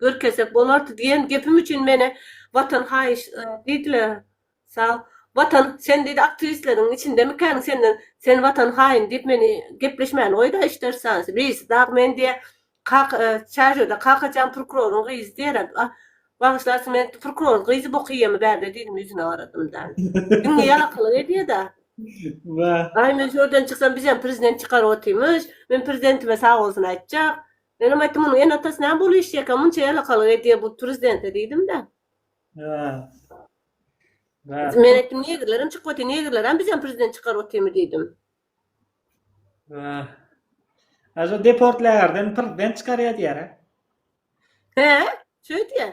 Görkezsek bolardy diýen gepim üçin meni Watan haýyş diýdiler. Sag. Watan, sen diýdi aktiwistleriň içindemikäň senden, sen Watan haýyn diýip meni gepleşmäni goýda işdersansi. Birisi dagy men diýe Kaka, çärjewde Kakajan prokuroryň gyzy diýer. Bagyşlarsyň men prokuroryň gyzy bok iýemi bärde diýdim ýüzüne garadymda. Diňe ýalakylyk edýeda. Wah. Aý men şu ýerden çyksam bizem prezident çykaryp otyrmyş. Men prezidentime sagbolsun aýtjak. Menem aýtdym, Munuň ene-atasy näme bolup işleýär eken, munça ýalakalyk edýär bu prezidente diýdim-de. Men aýtdym, Negrlerem çykyp otyr, negrlerem bizem prezident çykaryp otyrmy diýdim. Aja deportlaýar, prezident çykarýar diýýär-ä. Hä, şeýdýär.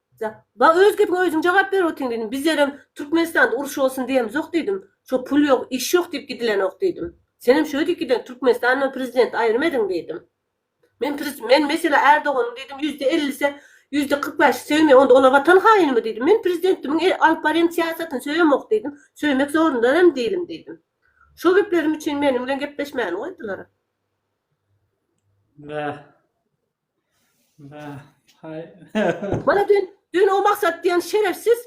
Ja, ba öz gepiňe özüň jogap berip otyň diýdim. Bizlerem Türkmenistanda uruş bolsun diýemizok diýdim. Şo pul ýok, iş ýok diýip gidilenok diýdim. Senem şöyle diýip giden, Türkmenistan bilen prezidenti aýrym ediň diýdim. Men prez, men meselä Ärdoganyň diýdim ýüzde ellisi, ýüzde kyrk bäşi söýmeýän, onda olar watan haýynymy diýdim. Men prezidentimiň e, alyp barýan syýasatyny söýemok diýdim. Söýmek zorunda hem dälim diýdim. Şo geplerim üçin meniň bilen gepleşmäni goýdular. Bäh. Mana dün, dün o Maksat diýen şerefsiz,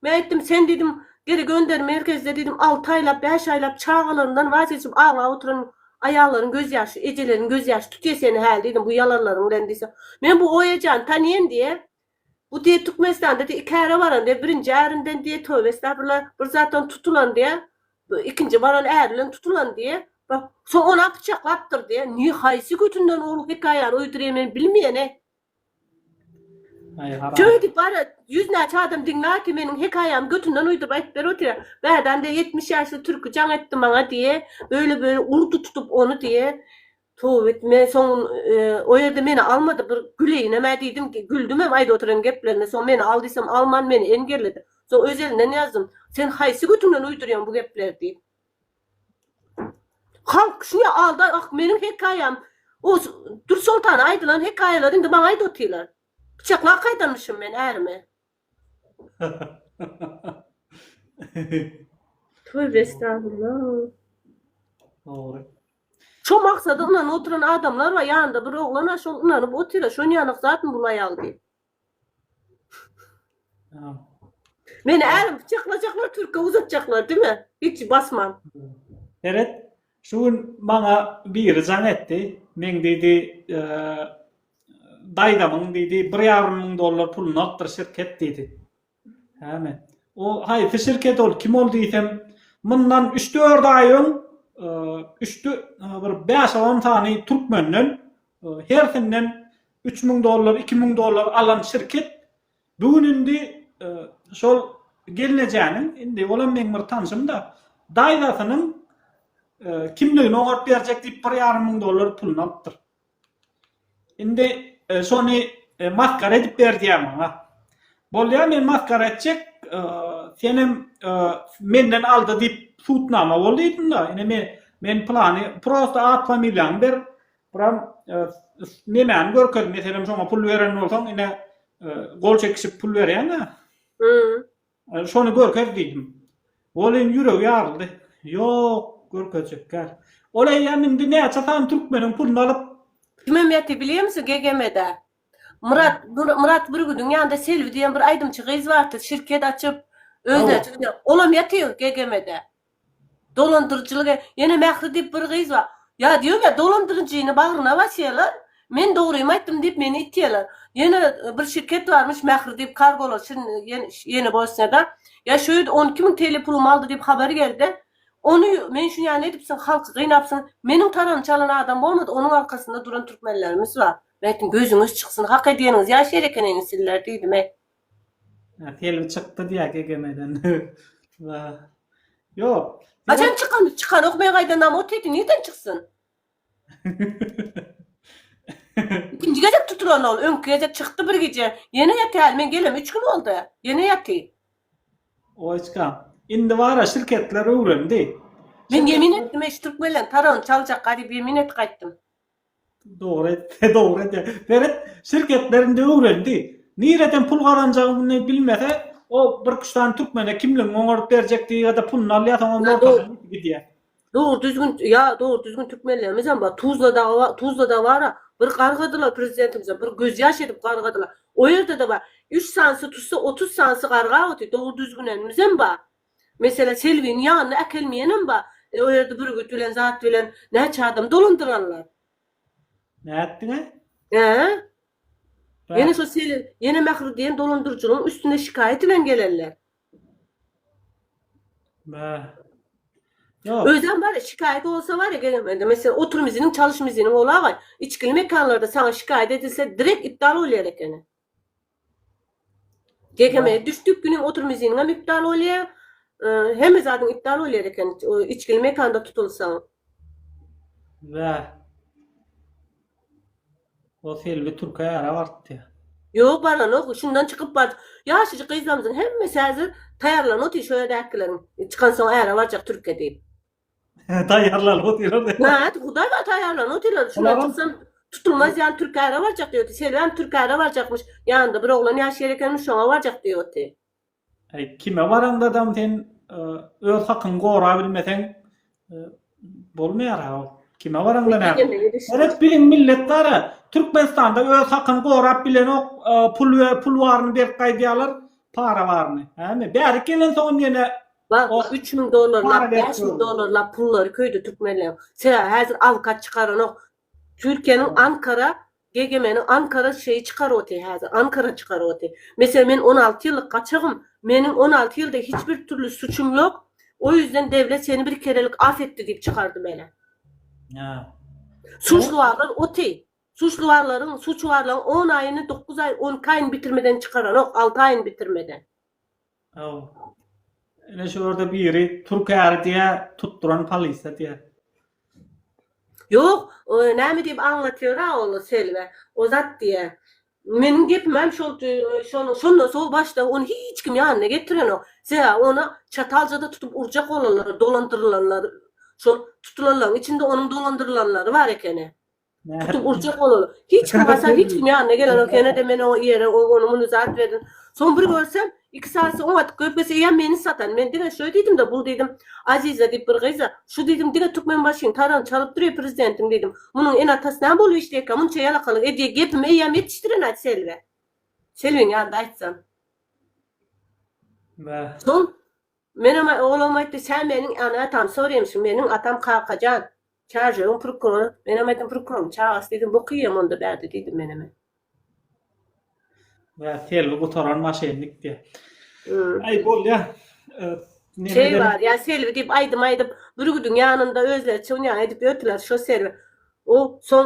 men aýtdym, sen diýdim, geri gönder, merkezde diýdim, alty aýlap, bäş aýlap çagalaryndan wac geçip aglap oturan aýallaryň gözýaşy, ejeleriň gözýaşy tutýa seni häli diýdim, bu ýalanlaryň bilen diýse. Men bu Oýajany tanýan diýýä, Bu diýe Türkmenistanda diýe iki äre baran diýe, birinji ärinden diýe töbe estagfirullah bir zatdan tutulan diýe, ikinji baran äri bilen tutulan diýe, soň onam pyçaklapdyr diýe, ne haýsy götünden ol hekaýany uýduryr men bilmeýän-eý. Şeýdip bar ýüz näçe adam diňlär ki meniň hekaýamy götünden uýduryp aýdyp berip otyrýar. Bädäm diýe ýetmiş ýaşly türki jaň etdi maňa diýe, beýle beýle urdy tutup ony diýe. Tüwit men soň o ýerde meni almady bir güleýinemä diýdim güldümem aýdyp oturan geplerine soň meni al diýsem alman meni engelledi soň öz elinden ýazdym sen haýsy götüňden uýdurýaň bu gepleri diýip halk şuňa aldan ah meniň hekaýam o Dursoltana aýdylan hekaýalar indi maňa aýdyp otylar pyçaklap gaýdanmyşym men ärime. Tövbe estagfurullah. Dogry. Şo maksada ynanyp oturan adamlar bar, ýanynda bir oglan a şol ynanyp otyr, şon ýanyk zatmy bul aýal diýip. Ýa. Meni ärim pyçaklajaklar, türke uzatjaklar dime, hiç basman. Seret, Şu gün maňa biri jaň etdi. Meň diýdi, daýzamyň diýdi, bir ýarym müň dollar puluny alypdyr şirket diýdi. Häme. O haýsy şirket ol, kim ol diýsem, mundan üç-dört aý öň üç bir bäş-on sany türkmenden hersinden üç müň dollar, iki müň dollar alan şirket Bu gün indi şol gelnejäniň, indi olam meň bir tanşym-da, daýzasynyň kimligini oňaryp berjek diýip bir ýarym müň dollar puluny alypdyr. Indi şony masgara edip ber diýýär maňa. Bolýar, men masgara etjek, senem menden aldy diýip sudnama bol diýdim-de, ine men men pylany, prosta at-familiýaňy ber, Buram nemäni görkez, meselem şoňa pul beren bolsaň, ine gol çekişip pul berýäň-ä. Hä. Şony görkez diýdim. Ol indi ýüregi ýaryldy. Ýok, görkezjekkä. Ol eýýäm indi näçe sany türkmeniň puluny alyp. Kime meti bilýämiz GGM-de? Myrat, Myrat Bürgüdiň ýanynda Selbi diýen bir aýdymçy gyz bardy, şirket açyp, özüne. Olam ýatyr GGM-de. Dolandyryjylyk e, ýene Mähri diýip bir gyz bar. Ýa diýýomä dolandyryjyny bagryna basýarlar, men dogrymy aýtdym diýip meni itýärler. Ýene bir şirket barmyş Mähri diýip kargolar şin ýene Bosniýada. Ýa şu ýerde on iki müň TL pulumy aldy diýip habar geldi. Ony men şu ýany edipsiň halky gynapsyň. Meniň paraňy çalan adam bolmady, onuň arkasynda duran türkmenlerimiz bar. Men aýtdym gözüňiz çyksyn hak edýäniňiz ýaş ýer ekeniňiz sizler diýdim e. Film çykdy diýýär Gegemeden. Wa. Ýok. Haçan çykan? Çykanok men gaýdan nam ot ýedi nirden çyksyn? Ikinji gezek tutulan ol, öňki gezek çykdy bir gije. Ýene ýatýaly men gelem üç gün boldy. Ýene ýaty. Oýçkam. Indi bara şirketler öwrendi. Men ýemin etdim eş türkmenleň taragyny çaljak gadip ýemin et gaýtdym. Dogry dogry de Berit şirketlerinde öwrendi. Nireden pul gazanjagyny bilmese o bir üç sany türkmene kimligiňi oňaryp berjekdi ýa-da pulyny alýar soň onuň ortasyna geçip gidýär. Dogry düzgün ýa dogry düzgün türkmenlerimizem bar Tuzlada Tuzlada bara bir gargadylar prezidentimize bir göz ýaş edip gargadylar o ýerde-de bar üç sanysy tutsa otuz sanysy gargap otyr dogry düzgünenimizem bar Meselem Selbini ýanyna äkelmeýenem bar. O ýerde bürgüt bilen zat bilen näçe adam dolandyranlar. Nätdiňä? Hä? Ýene şo Seli ýene Mähri diýen dolandyryjynyň üstüne şikaýat bilen gelenler. Mä. Ýok. Özem bar şikaýat bolsa bar gelmedi. Meselem oturmyzynyň çalyşmyzynyň olaga içkili mekanlarda saňa şikaýat edilse direkt iptal bolýar ekeni. Gegeme düşdük güniň otur miziniňem iptal bolýa hemme zadyň iptal bolýar eken içgili mekanda tutulsaň. Bäh. O Selbi türke ýara bartdy. Ýok baranok şundan çykyp bar ýaşajyk gyzlarymyzyň hemmesi häzir taýýarlanyp otyr şo ýerdäkileriň çykansoň äre barjak türke diýip. Taýýarlanyp otyryn. Näet, Hudaý bar taýýarlanyp otyryn. Şundan çyksam tutulmaz ýan Türkäre barjak diýipdi. Selbäm Türkäre barjakmyş. Ýanynda bir oglan ýaşaýar ekenmiş, şoňa barjak diýipdi. Äý, kime baraňdadam sen öz hakyňy gorabilmeseň bolmaýar-a ol. Kime baraňda näme? Seret biziň millet bar-a, Türkmenistanda öz hakyny gorap bilenok, pul baryny berip gaýdýarlar, para baryny. Hä, bärik gelensoňam ýene Bak, O- üç müň dollarlap, Para berip bäş müň dur. dollarlap pullary köýdi türkmenleň. Sebäbi häzir awkat çykaranok. Türkiýäniň Ýok. Ankara, GGM-niň Ankara şeýi çykaryp otyr häzir, Ankara çykaryp otyr. Meselem, men on alty ýyllyk gaçagym, meniň on alty ýylda hiç bir türli suçum ýok, o ýüzden döwlet seni bir kerelik af etdi diýip çykardy meni. Ýa. Suçluwarlar otyr. Suçluwarlaryň, suçuwarlaryň on aýyny, dokuz aý, on iki aýyny bitirmeden çykaranok, alty aýyny bitirmeden. Aw. Ine şu ýerde biri türk äri diýä, tutduran polisiýa diýä. Ýok, o näme diýip aňlatýora ol Selme. O zat diýä. Meniň gepimem şol şonuň şondan soň başda ony hiç kim ýanyna getirenok. Sebäbi ony Çataljada tutup urjak bolanlar, dolandyrylanlar, şol tutulanlaryň içinde onuň dolandyrylanlary bar ekeni. Tutup urjak ol ony. Hiç kim barsa hiç kim ýanyna gelenok. Ýene-de men oňa ýere o ony muny zat berdim. Soň bir görsem, iki saýasy oňa tykýar, bes eýýäm meni satan. Men diňe şöý diýdim-de, bul diýdim, Aziza diýip bir gyz-a, şu diýdim diňe Türkmenbaşyň tarygyny çalyp dur-eý prezidentiň diýdim. Munuň ene-atasy näme bolup işleýärkä, munça ýalakalyk edýä gepimi eýýäm ýetişdiren-aý Selbä. Selbiň ýanynda aýtsam. Soň Menem oglam aýtdy, Sen meniň ana tamsor emşi, meniň atam Kakajan, Çarjewiň prokurory. Menem aýtdym, Prokuroryň çagasy diýdim, bokyýem onda bärde diýdim menem. Ýa Selbi gutaran maşennik diýýä. Aý bolýa. Şeý bar, ýa Selbi diýip aýdym aýdyp, bürgüdiň ýanynda özleri çywnýan edip ýörtüler, şo Selbi. O soň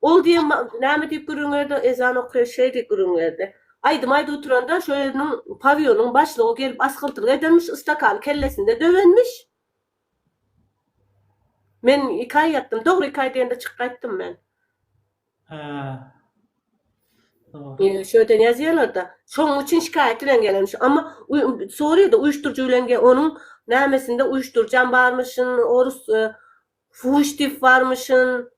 Ol diýen ma näme diýip gürrüň berdi, ezan okaýa şeý diýip gürrüň berdi. Aýdym aýdyp oturanda şo ýeriniň pawionyň başlygy gelip asgyrtylyk edenmiş, ystakany kellesinde döwenmiş. Men iki aý ýatdym, dogry iki aý diýende çykyp gaýtdym men. Hä. Dogry. Ýöne şo ýerden ýazýarlarda, şoň üçin şikaýat bilen gelenmiş. Amma uý soraýda uýuşdyryjy bilen ge onuň nämesinde uýuşdyryjam barmyşyn, orus Fuş diýip barmyşyn.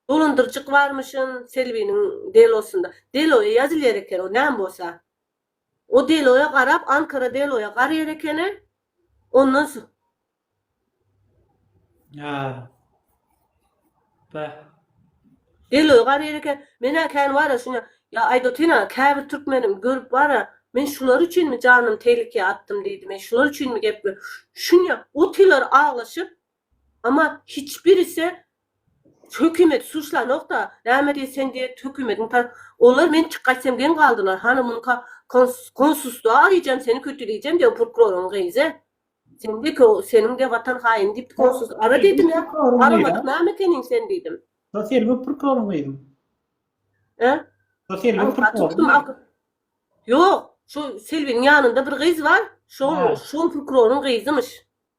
Dolandyrjyk barmyşyn Selbiniň delosynda. Deloýa ýazylýar eken o näme bolsa. O deloýa garap Ankara deloýa garýar ekeni. Ondan so. Ýa. Beh. Deloýa garýar eken. Men-ä kän bar-a şuňa. Ýa Aýdotyn-a käbir türkmenim görüp bar-a. Men şular üçinmi janymy tehlikä atdym diýdi. Men şular üçinmi gepledim. Şuňa otylar aglaşyp. Amma hiç birisi hökümeti suçlanokda, näme diýip sen diýip hökümetiň ta Olar men çykaýsam geň galdylar, hany munyka konsustuwa araýjam seni kötüleýjem diýip o purkuroryň gyzy. Sen diýip ki seniň diýip watan haýyny diýip konsus ara diýdim ýa, aramadyk näme ekeniň sen diýdim. Şo selbi purkuroryň gyzym. Hä? Şo selbi purkuroryň. Ýok, şo selbiniň ýanynda bir gyz bar, şo şo purkuroryň gyzymyş.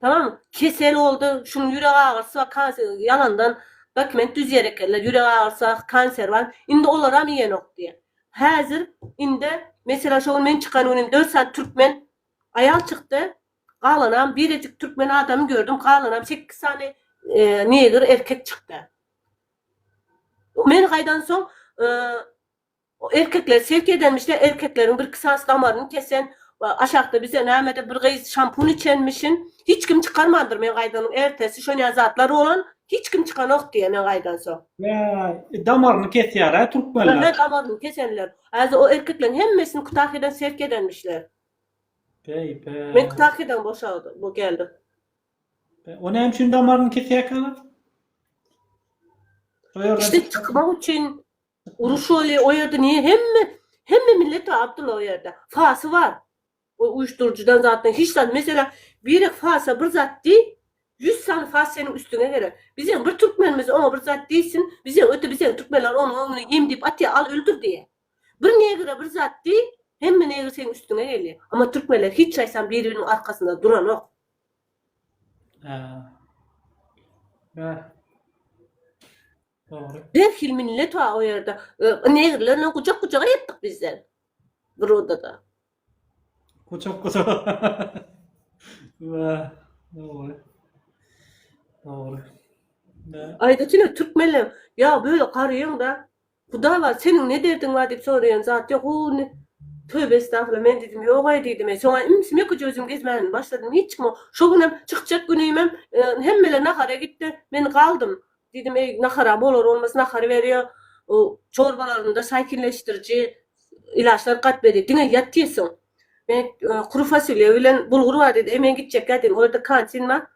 Tamam kesel boldy şunuň ýürek agyrysy bar kanser ýalandan dokument düzýär ekenler ýürek agyrysy bar kanser bar indi olaram iýenok diýýär häzir indi meselem şo gün men çykan gün indi dört sany türkmen aýal çykdy galanam birejik türkmen adamy gördüm galanam sekiz sany negr erkek çykdy men gaýdan soň Erkekler selk edenmişler erkekleriň birki sas damaryny kesen aşakda bize nämede bir gyz şampun içenmişin hiç kim çykarmandyr men gaýdanyň ertesi şon ýaly zatlar bolan hiç kim çykanok diýýä men gaýdansoň. Bäý damaryny kesýärä türkmenler. Öňe damaryny kesenler. Azy o erkekleriň hemmesini kutahydan selk edenmişler. Bäý bäý. Men kutahydan boşagdy bu geldi. Bäý o näme üçin damaryny kesýäkä olar? Şo ýerden. Işde çykmak üçin Uruş bolýa o ýerde niýe hemme hemme millet Abdylla o ýerde. Fasy bar. O uýuşdyryjydan zatdan hiç zat meselem birek fasa bir zat diý 100 sany fas seniň üstüňe gerek. Bizeň bir türkmenimiz oňa bir zat diýsin bize öte bizeň türkmenler onuň öňüne ýem diýip atýa al öldür diýe. Bir negre bir zat diý hemme negr seniň üstüňe gelýe. Amma türkmenler hiç çaýsam biri biriniň arkasynda duranok. Haa. Haa. Behil millet wa o ýerde negrlerle gujak gujaga ýatdyk bizler. Burodada. Gujak gujaga. Wa dogry. Dogry. Aýda çyny türkmenler ýa böyle garaýaňda Hudaý bar seniň ne derdiň bar diýip soraýan zat ýok o ne Töbe estagfirullah men diýdim ýogaý diýdim e şoňa imsimi ýeke özüm gezmän başladym hiç kime şo günem çykjak günimem hemmeler nahara gitdi men galdym Diýdim, eý, nahara bolar-bolmaz nahary berýär. Çorbalarynda saýkinleşdiriji ilaçlar gaýt berýär. Diňe ýat diýsin. Men kuru fasolýa bilen bulgur bar diýdi. Eý, men gitjekkä diýdim. Ol ýerde kantin bar.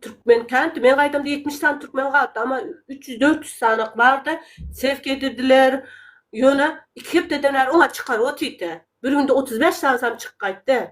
Türkmen kanti. Men gaýdamda ýetmiş sany türkmen galypdy. Amma üç ýüz, dört ýüz sany-ak bar-da. Sewk edirdiler. Ýöne iki hepdeden bäri oňa çykaryp otyrdy. Bir günde otuz bäş sanysam çykyp gaýtdy.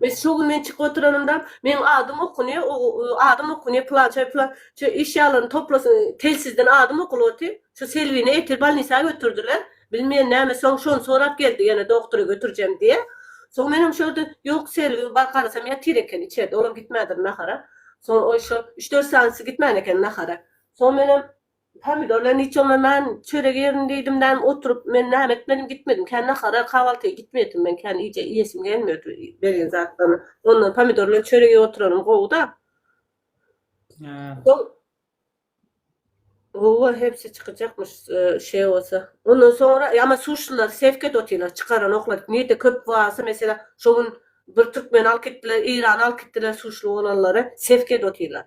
Mes şu gün men çykyp oturanymda meň adym okunýa adym okunýa pylançay pylançay eşýalaryny toplasyn telsizden adym okulywati şu Selbini ertir balnisa götürdiler bilmeýän näme soň şony sorap geldi ýene dogtora götürjem diýe soň menem şu ýerde ýok Selbi bar garasam ýatyr eken içerde olam gitmädir nahara soň oý şu üç dört sanysy gitmän eken nahara soň menem Pomidorlary niçe onlanan, çörek ýerin diýdim däm oturyp, men näme etmedim gitmedim kän nahara, kahwaltyýa gitmeýetim men kän iýje iýesim gelmiýor berýän zatlaryny, ondan pomidor bilen çörek iýip oturanym gowyda. Soň Gowa hepsi çykyjakmyş şeý bolsa. Ondan soňra ýa men suşlylary sevk edip otyrlar çykaran oklary nirde köp barsa mesele şo gün bir türkmeni alyp gitdiler, eýrany alyp gitdiler suşly bolanlary sevk edip otyrlar.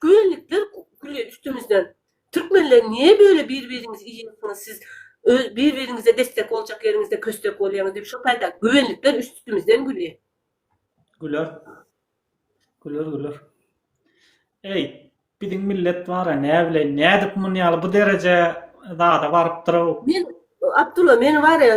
Tüwellikler gülýär üstümizden. Türkmenler niye böyle bir biriňizi iýýäňsiňiz siz öz bir biriňize destek boljak ýeriňizde köstek bolýaňyz diýip şo taýda güwenlikler üstümizden gülýär. Güler. Güler güler. Eý biziň millet bara näbileýin nädip munýaly bu dereje zada barypdyrow. Men Abdulla men barýa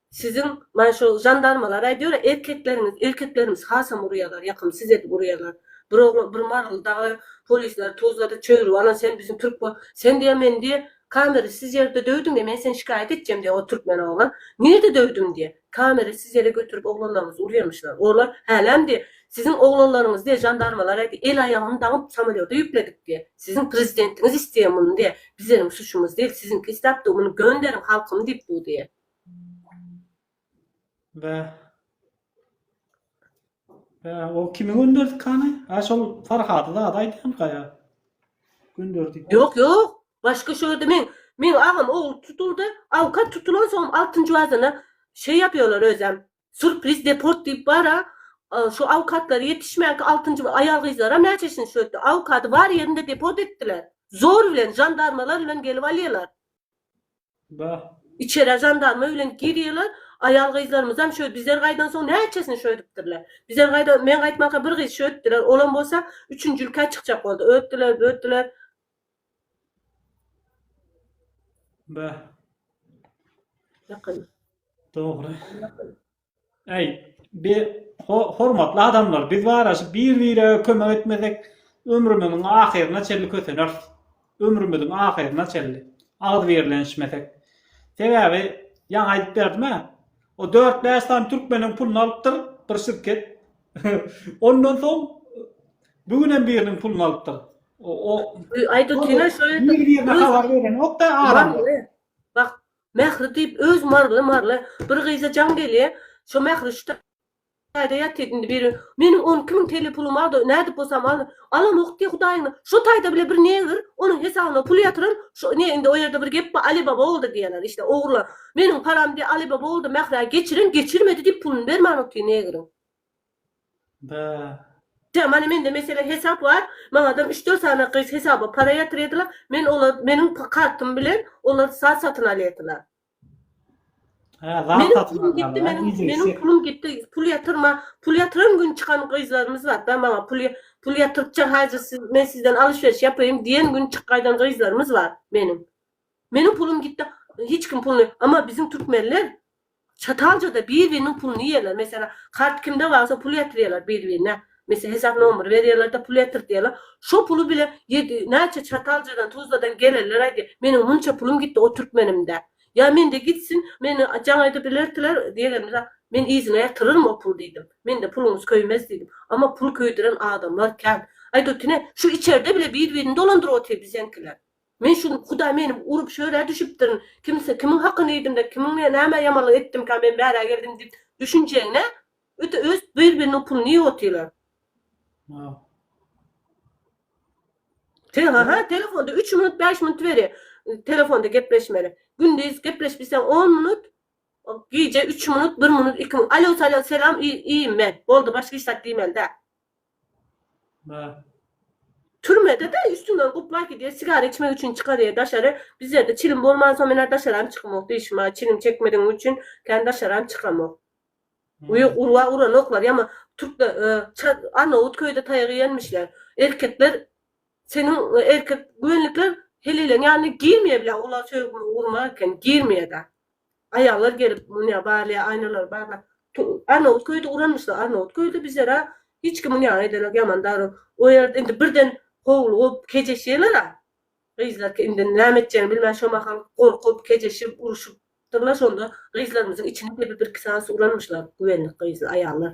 Siziň maňa şo žandarmalar aýdýora erkekleriňiz erkeklerimiz hasam urýalar ýakym siz edip urýalar bir oglan bir marul dagy polisleri tuzlada çöýrüp alan sen biziň türk bol sen diýä men diýä kamera siz ýerde döwdüň diýä men seni şikaýat etjem diýä o türkmen oglan nirde döwdüm diýä kamera siz ýere götürip oglanlaryňyzy urýamyşlar olar häläm diýä siziň oglanlaryňyz diýä žandarmalar aýdy el aýagyny daňyp samolýota ýükledik diýä siziň prezidentiňiz isleýä muny diýä bizeniň suçumyz dil siziňki isläpdi muny gönderiň halkym diýip bu diýä. Bä. Bä, o kimi gönderdik hany? Ha şol Farhady zat aýdýan gaýa. Gönderdik. Ýok, ýok. Başga şu ýerde men men agam ogul tutuldy. Awkat tutulan soň altynjy wazyna şey ýapýarlar özem. Surpriz deport diýip bar-a, şu awkatlary ýetişmänki altynjy bir aýal-gyzlaram näçesini şu etdi. Awkady bar ýerinde deport etdiler. Zor bilen, žandarmalar bilen gelip alýarlar. Bah! Içerä žandarma bilen girýärler. Aýal-gyzlarymyzam şö, bizler gaýdan soň näçesini şö edipdirler. Bizler gaýda, men gaýtmanka bir gyz şö etdiler. Olam bolsa üçünjilikä çykjak boldy. Ötdiler, bötdiler. Be. Ýakyn. Dogry. Ýakyn. Äý, bir hormatly adamlar, biz baraşyp bir-bire kömek etmesek, ömrümiziň ahyryna çenli köseneris. Ömrümiziň ahyryna çenli. Agzybirlenişmesek. Sebäbi, ýaňy aýdyp berdim-ä, o dört-bäş sany türkmeniň puluny alypdyr bir şirket. Ondan soň Bu günem biriniň puluny alypdyr. O Aýt otyryn-a şol ýerde. Nir birine habar berenokda adam. Bak, Mähri diýip öz Maryly-Maryly bir gyza jaň gelýä. Şo Mähri şu taýda ýatyr indi biri. Meniň on iki müň TL pulum bardy, nädip bolsam alyn. Alanok diý Hudaýyňa. Şo taýda bile bir negr onuň hesabyna pul ýatyran. Şo ne indi o ýerde bir gep bar, Alibaba boldy diýýäler işte ogurlan. Meniň param diý Alibaba boldy, Mährä geçiren, geçirmedi diýip puluny bermän otyr negriň. Bäh. Tä mana mende mesele hesap bar, maňadam üç dört sany gyz hesaba para ýatyrydylar, men olar meniň kartym bilen olar zat satyn alýadylar. Hä zat Meniň satyn pulum gitdi, alýarlar meniň iýjek meniň iýjek. pulum gitdi, pul ýatyrma, pul ýatyran gün çykan gyzlarymyz bar, bä maňa pul ýa- pul ýatyrtja hajy siz men sizden alyşweriş ýapaýyn diýen gün çyk gaýdan gyzlarymyz bar meniň. Meniň pulum gitdi, hiç kim puluny, emma biziň türkmenler Çataljada Bizbiniň puluny iýerler. Meselem, kart kimde barsa pul ýatyrýarlar Bizbine. Meselem, hesap nomery berýärler-de, pul ýatyrtýarlar. Şo puly bile ýedi, näçe Çataljadan, Tuzladan gelenler aýdýar, Meniň munça pulum gitdi o türkmenimde. Ýa mende gitsin, meni jaň aýdyp ilertiler diýenimde, Men yzyna ýatyraryn o puly diýdim. Mende puluňyz köýmez diýdim. Amma pul köýdüren adamlar kän. Aýdotine, şu içerde bile Bizbini dolandyryp otyr biziňkiler. Men şuny Hudaý meni urup şu ýere düşüpdirin, kimse kimiň hakyny iýdimde, kimiňe näme ýamanlyk etdimkä men bärä geldim diýip düşünjegne öte öz bir biriniň puluny iýip otyrlar. Tele-ha-ha telefonda üç minut bäş minut beri telefonda gepleşmeli. Gündiz gepleşip bilseň on minut, gije üç minut, bir minut, iki minut. Alo-salam, selam, iýim men. Boldy başga hiç zat diýmeli däl. Türmede-de üstüňden guplaý gidýär, sigara içmek üçin çykarýar daşary. Bizlerde çilim bolmansoň men-ä daşaram çykamok diýşim-ä, çilim çekmedigim üçin kän daşaram çykamok. We urwa uranoklar, ýa-ma türkler Arnawut köýde taýak iýenmişler. Erkekler seniň erkek göwünlikler heleýleň ýanyna girmeýär bile, olar söýgüme urma eken, girmeýär-de. Aýallar gelip mundýa barýa aýnalary barlap Arnawut köýdi uranmyşlar Arnawut köýdi bizera hiç kim mundýa eden yok ýaman daru o ýerde indi birden howlugyp kejeşýeler-a gyzlarky indi näme etjegini bilmän şo mahal gorkup kejeşip uruşypdyrlar şonda gyzlarymyzyň içini depip birki sany uranmyşlar güwenlik gyzlar aýallar.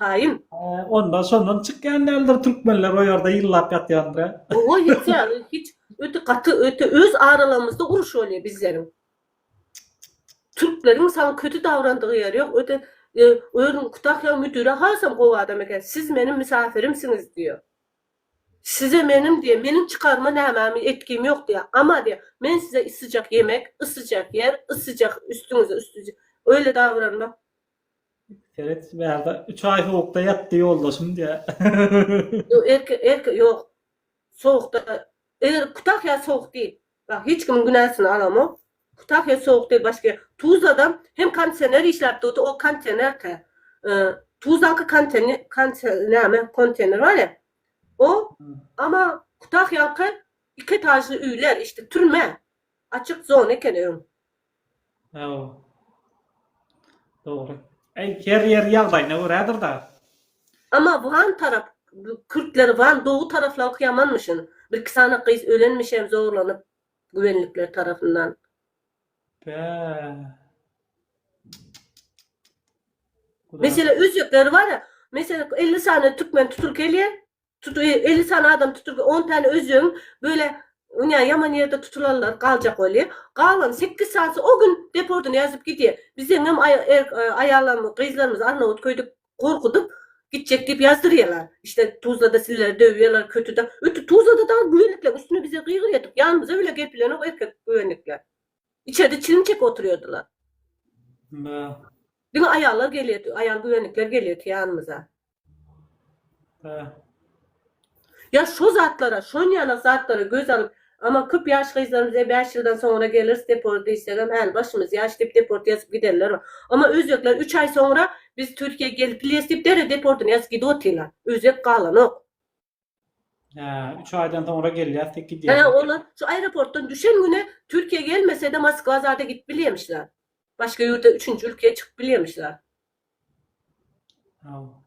Taýyn. Onda şondan çykýan däldir türkmenler o ýerde ýyllap ýatýandyr hä? Owa ýetýär hiç öte gaty öte öz aralarymyzda uruş bolýar bizleriň. Türkleriň saňa köti dabrandygy ýeri ýok öte özüň kutahýa müdüre hasam gowy adam eken siz meniň mysafirimsiňiz diýýär. Size meniň diýýär meniň çykaryma nämäm etgim ýok diýýär. Ama diýýär men size ysyjak ýemek, ysyjak ýer, ysyjak üstüňize üstüjek öýle dabranmak Seret bärde 3 aý sowukda ýatdy ýoldaşym diýä. Ýok erke erke ýok. Sowukda eger Kutahýa sowuk diýil. Bak hiç kimiň günäsini alamok. Kutahýa sowuk diýil başga. Tuzlada hem kondisioner işläp durdy o kontenerka. Tuzlanyňky konteni konte näme kontener barýa. O ama Kutahýaňky iki etažly öýler işte türme. Açyk zona eken öň. Hawa. Dogry. Eý, her ýer ýagdaýyna görädir dagy. Amma Wan tarap kürtleri Wan dowy taraflaryňky ýamanmyşyn. Birki sany gyz ölenmişem zorlanyp güvenlikler tarapyndan. Bäh. Mesele özbekleri bar-a, mesele elli sany türkmen tutulyk elýär. Tut elli sany adam tutulgy on täne özüň böle ynja ýaman ýerde tutulanlar galjak weli galan sekiz sanysy o gün depordyny ýazyp gidýä bizeňňem aýalam gyzlarymyzy arnawut köýdüp gorkudyp gitjek diýip ýazdyrýalar işte tuzlada sizleri döwýalar kötüda öti tuzlada dagy güwenlikler üstüne bize gygyrýa tup ýanymyza bile gelip bilenok erkek güwenlikler içerde çilim çekip otyrýadylar diňe aýallar gelýä aýal güwenlikler gelýä tu ýanymyza. Ýa şo zatlara, şonýaly zatlara göz alyp, aman köp ýaş gyzlarymyz e bäş ýyldan soňra geleris deport diýsegem häli başymyz ýaş diýip deport ýazyp gidenler bar. Amma özbekler üç aý soňra biz Türkiýä gelip bilýäris diýip derrew deportyny ýazyp gidip otyrlar. Özbek galanok. Hä, 3 aýdan soňra gelýär, tek gidýär. Hä, olar şu aeroportdan düşen güne Türkiýä gelmese-de Moskwa zada gidip bilýämişler. Başga ýurda üçünji ülkeye çykyp bilýämişler. Haw.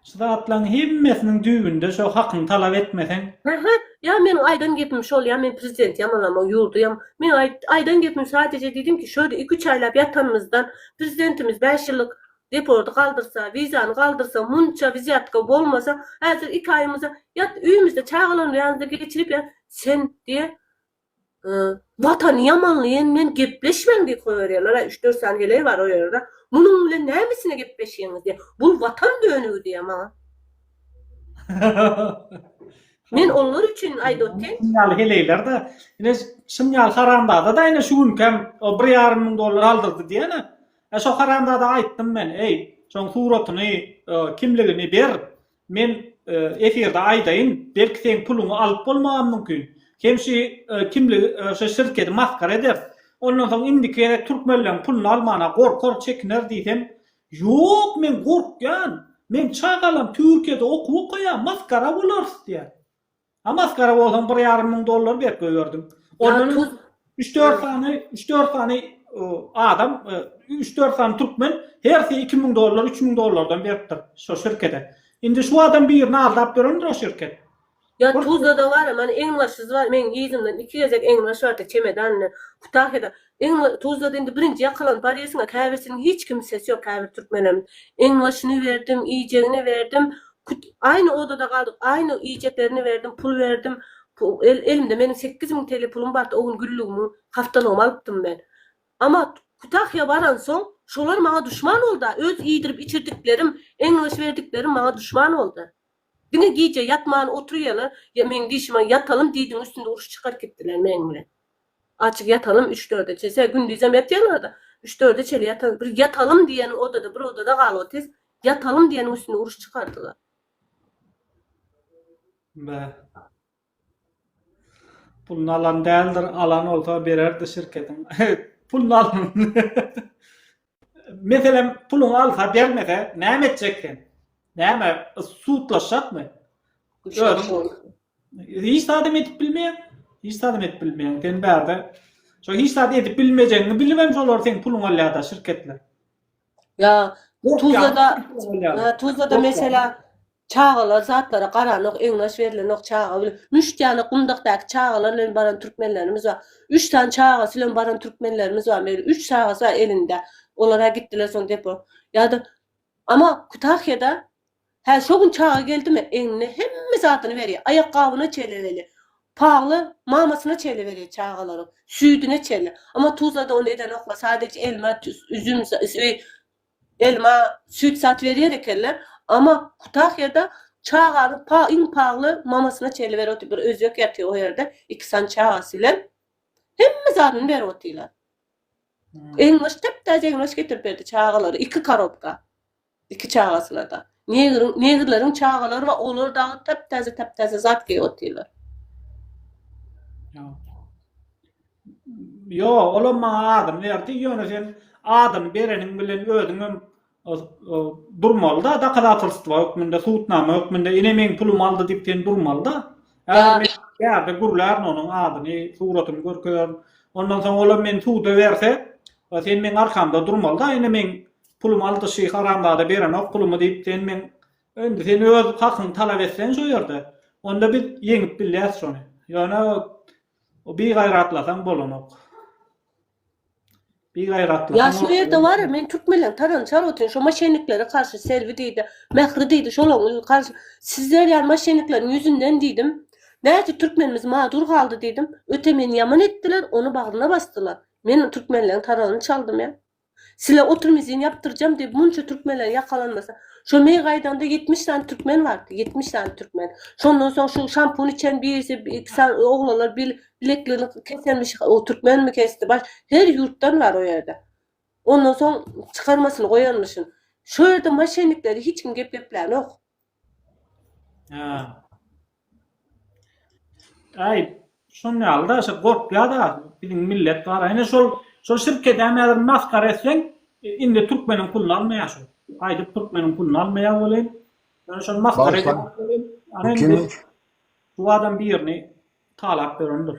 Şu zatlaryň hemmesiniň düýbünde şo hakyňy talap etmeseň. Hä-hä, ýa meniň aýdan gepim şol, ýa men prezidenti ýamanlamaň, ýurdy ýam. Meň aýdan gepim sadejä diýdim ki, şo ýerde iki-üç aýlap ýatanymyzdan prezidentimiz bäş ýyllyk Deporty galdyrsa, wizany galdyrsa, munça wziýatka bolmasa, häzir iki aýymyza ýat öýümizde çagalaryň ýanynda geçirip ýa sen diýe Watany ýamanlaýan bilen gepleşmäň diýip goýberýärler, aý üç-dört sany heleý bar o ýerde, munuň bilen nämesine gepleşýäňiz diýe, bul Watan dönügi diýe maňa. Men olar üçin aýdyp otyryn. Şuň ýaly heleýler-de, ine şuň ýaly haramzada-da ine şu günki hem o bir ýarym müň dollar aldyrdy diýeni, Hä şo haramzada aýtdym men eý şoň suratyny kimligini ber men efirde aýdaýyn belki seň puluňy alyp bolmagam mümkin hem şy kimligi şo şirkedi masgara ederis ondan soň indiki gezek türkmenleň puluny almana gorkar çekiner diýsem ýok men gorkýan men çagalam türkiýede okuw okaýa masgara bolarys diýýä Ha maskara bolsaň bir ýarym müň dollar berip goýberdim. Ondan öň 3-4 sany, 3-4 sany adam, 3-4 sany türkmen hersi 2000 dollar, 3000 dollardan beripdir şu şirkete. Indi şu adam birini aldap berendir o şirket. Ya Tuzlada bar, men eňbaşyz bar, men ýüzümden iki gezek eňbaş bardy, çemedanla, Kutahyda. Eňňe tuzlady indi birinji ýakalanyp barýasyňa käbirsiniň hiç kimsesi ýok käbir türkmenem eňňeşini berdim iýjegini berdim kut aýny odada galdyk aýny iýjeklerini berdim pul berdim el elimde meniň sekiz müň TL pulum bardy o gün güllügimiň haftalygymy alypdym men ama kutahýa baransoň şolar maňa duşman bolda öz iýdirip içirdiklerim eňňeş berdiklerim maňa duşman bolda diňe gije ýatman oturýalar ýa meň dişime ýatalym diýdiň üstünde uruş çykaryp gitdiler meň bilen. Açyk ýatalam üç-dörde çese, gündizem ýatýaňyz-da, üç-dörde çenli ýataňyz. Bir ýatalyň diýen odada, bir odada galyp otyrs, ýatalyň diýeniň üstünde uruş çykardylar. Be. Puluny alan däldir, alan bolsa bererdi şirketiň. Puluny alan. Meselem, puluňy alsa, bermese, näme etjek sen? Näme, sudlaşjakmy? Özüň Hiç zadam edip bilmeýäň. Hiç zadam edip bilmeýäň. Sen bärde şo hiç zat edip bilmejegiňi bilibem şolar seň puluňy alýarda şirketler. Ýa Tuzlada Tuzlada mesela çagalar zatlara garanok, egnaş berilenok çaga bilen. Müşt ýaly gumdakdaky çagalar bilen baran türkmenlerimiz bar. Üç sany çagasy bilen baran türkmenlerimiz bar. Meger üç çagasy bar elinde. Olara gitdiler soň depo. Ýa-da Ama Kütahýada Hä, şo gün çaga geldimi, egnine hemme zadyny berýär, aýakgabyna çeleli, pagla mamasyna çeleli berýär çagalaryň, süýdüne çeleli. Amma Tuzlada ony edenoklar, sadejä elma, üzüm, elma, süýt zat berýär ekenler. Amma Kutahyýada çagany iň pagly mamasyna çeleli berip otyr. Bir özbek ýatyr o ýerde, iki sany çagasy bilen. Hemme zadyny berip otyrlar. Egin-goş, täp-täze egin-goş getirip berdi çagalary, iki korobka. Iki çagasyna-da. Negriň, negrleriň çagalary bar, olar dagy täp-täze, täp-täze zat geýip otyrlar. Ýo, olam maňa adyny berdi, ýöne sen adyny bereniň bilen özüňem durmaly-da, dokazatorstwa hökmünde, subutnama hökmünde, ine meň pulumy aldy diýip sen durmaly-da. Ýa-da gürlärin onuň adyny, suratyny görkezerin. Ondan soň olam meni suda berse, sen meň arkamda durmaly-da, ine meň Pulumy aldy şy haramzada berenok pulumy diýip sen meň Indi sen öz hakyňy talap etseň şo ýerde onda biz ýeňip bilýäs şony ýöne o bigaýratlasaň bolanok. Bigaýratlasaň Ýa şu ýerde bar men türkmenleň tarany çarwatyn şo maşenniklere karşy Selbi diýdi Mähri diýdi şolaň ýüzi karşy sizler ýaly maşennikleriň ýüzünden diýdim näçe türkmenimiz madur galdy diýdim öte meni ýaman etdiler ony bagryna basdylar men türkmenleň taranyny çaldym ýa. Sile otrmizin ýapdyrjam diýip munça türkmenleriň ýakalanmasa. Şo meý gaýdaňda ýetmiş sany türkmen bardy, ýetmiş sany türkmen. Şondan soň şu şampun içen birisi iki sany oglanlar bil bilekligini kesenmiş o türkmenmi kesdi baş her ýurtdan bar o ýerde. Ondan soň çykarmasyny goýanmyşyn. Şo ýerde maşennikleri hiç kim gep geplänok. Hä. Aý, şon ýaly-da, şo gorkýar-da biziň millet bar. Ine şol, şol şirkedem häzir masgara etseň, indi türkmeniň puluny almaýar şol. Gaýdyp türkmeniň puluny almaýar welin, ýöne şony masgara edýär welin, ana indi şu adam birini talap berendir.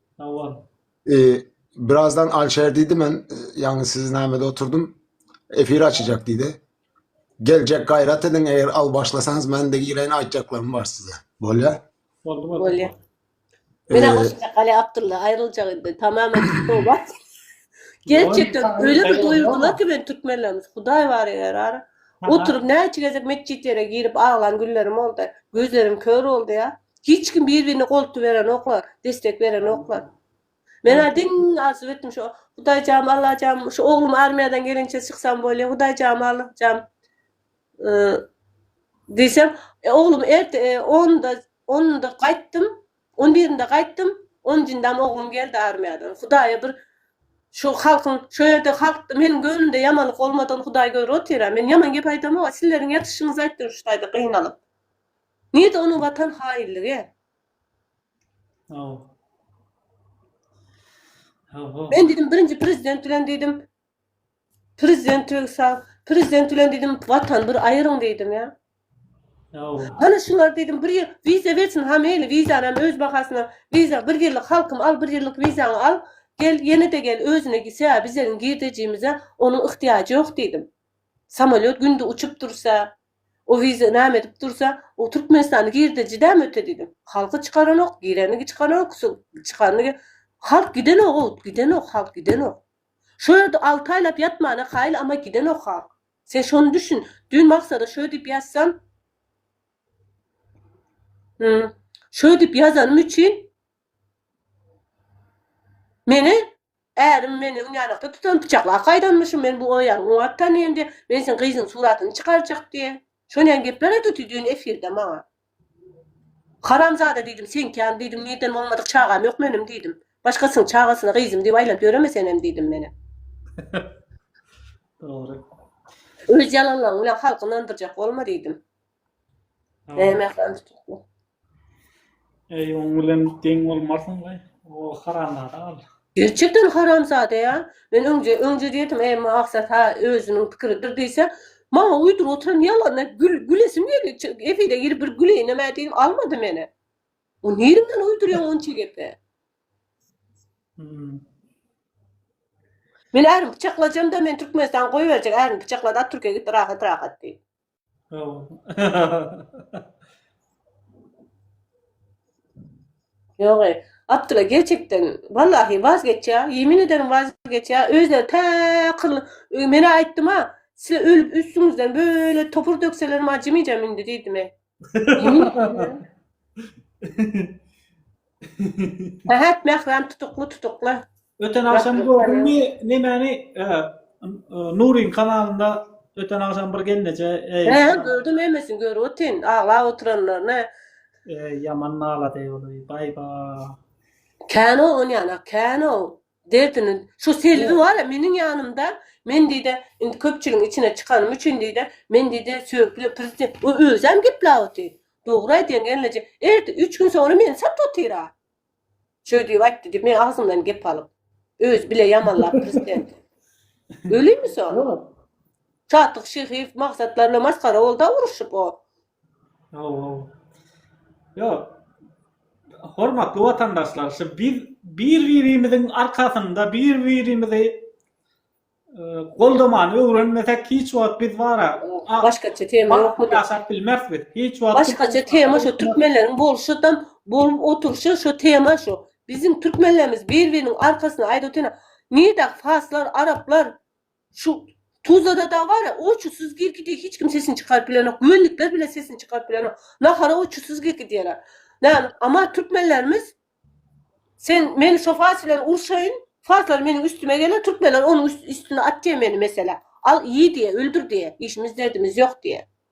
Sawol. E, birazdan Alşer diýdi men, e, ýagny siz nämede oturdym. Efir açyjak diýdi. Geljek gaýrat ediň, eger al başlasaňyz men de gireýin aýtjaklarym bar size. Bolýa? Boldy boldy. Bolýa. Mena Ee, goşacak Ali Abdulla aýryljak indi. Tamamen tobat. Gerçekten Oy, öyle bir tabii, doýurdular oýa. ki ben türkmenlerimiz. Hudaý bar eger ar. Aha. Oturup näçe gezek metjitlere girip aglan günlerim oldy. Gözlerim kör oldy ya. Hiç kim bir-birine goltgy berenoklar, destek berenoklar. Men-ä diň arzuw etdim şo, Hudaýjam, Allajam, şu oglum armiýadan gelinçe çyksam bolýa, Hudaýjam, Allajam diýsem, oglum erte onda, onda gaýtdym, on birinde gaýtdym, on njyndam oglum geldi armiýadan. Hudaýa bir şu halkyň, şo ýerde halkda meniň göwnümde ýamanlyk bolmadygyny Hudaý görüp otyr-a. Men ýaman gep aýdamok-a, sizleriň ýatyşyňyzy aýtdym şu taýda gynalyp. Nirde onuň watan haýylligi? Men diýdim birinji prezident bilen diýdim prezidentligsa prezident bilen diýdim watan bir aýyryň diýdim ýa. Hany şular diýdim bir ýyl wiza bersin ha meýli wizany hem öz bahasyna wiza bir ýyllyk halkym al bir ýyllyk wizaňy al gel ýene-de gel özüne gitse bizegiň girdejimize onuň yhtiýajy ýok diýdim. Samolýot günde uçup dursa O wiza name edip dursa, o Türkmenistana girde jidäm öte diýdim. Halky çykaranok, girenigi çykanok, çykanyny Halk gidenok o, gidenok halk, gidenok. Şo ýerde alty aýlap ýatmana kaýyl ama gidenok halk. Sen şony düşün, düýn Maksada şo diýip ýazsam, Şo diýip ýazanym üçin meni Ärim meni ünänakda tutup, pyçaklap gaýdanmyşyn, men bu aýaly oňat tanaýyn diýip, men seň gyzyň suratyny çykarjak diýip, şoneýin gepler aýdypdy düýn efirde maňa. Haramzada diýdim, seňkän diýdim, nirden bolmadyk çagam ýok meniň diýdim. Başgasynyň çagasyna gyzym diýip aýlanyp ýöreme senem diýdim meni. Dogry. Öz ýalanlaryň bilen halky ynandyrjak bolma diýdim. Näme ýaly? Eý, oň bilen deň bolmarsyň we o haramzada gal. Gerçekden haramzada ýa? Men öňje, öňje diýedim, eý, Maksat ha özüniň pikiridir diýse, maňa uýduryp oturan ýalanyna gül, gülesim geldi. Efire girip bir güleýinem-ä diýdim, almady meni. O nirinden uýdurýaň onça gepi? Hum. Men ärini pyçaklajam-da, meni Türkmenistan goýberjek, ärini pyçaklady, at Türkiýe gitdi, rahat-rahat diýip. Ýogy, Abdylla gerçekden wallahi waz geçýä, ýemin ederim waz geçýä, özleri tä kyrly, menä aýtdym-a, size ölüp üstüňizden böyle topur dökselerim acymyjam indi diýdimi. Sähet Mähram tutukly tutukly. Öten agşam gördüňmi nemäni Nuryň kanalynda öten agşam bir gelneje eý. He gördüm hemmesini görüp otyryn aglap oturanlaryny. Eý ýaman nalady ol baý ba. Kän o onýana kän o. Derdini şu Selbi bar ya meniň ýanymda men diýde indi köpçüligiň içine çykanym üçin diýde men diýde söýgüli prezident o özem geplap otyr. Dogry aýdýaň gelneje ertir üç gün soňra meni sat otyra. Şöý diýip aýtdy diýip meň agzymdan gep alyp. Özi bile ýamanlap prezidenti. Ölümi soň? Çatyk Şyhyýew maksatlar bilen masgara bolda uruşyp o. Hawa. Ýok. Hormatly watandaşlar, şu biz bir-birimiziň arkasynda bir-birimizi goldamany öwrenmesek hiç wagt biz bara başgaça tema ýokmy daşap bilmeris biz hiç wagt başgaça tema şu türkmenleriň bolşydam bolup oturşy şu tema şu biziň türkmenlerimiz bir-biriniň arkasyna aýdyp otyrna nida faslar araplar Şu Tuzlada dagy bar-a, oçusyz girki diýip hiç kim sesini çykaryp bilenok, güwendikler bile sesini çykaryp bilenok. Nahara oçusyz girki diýerler. Näme, aman türkmenlerimiz Sen meni şo fars bilen urşaýyn, farslar meniň üstüme geler, türkmenler onuň üstüne at diýe meni meselä. Al, iý diýe, öldür diýe, işimiz derdimiz ýok diýe.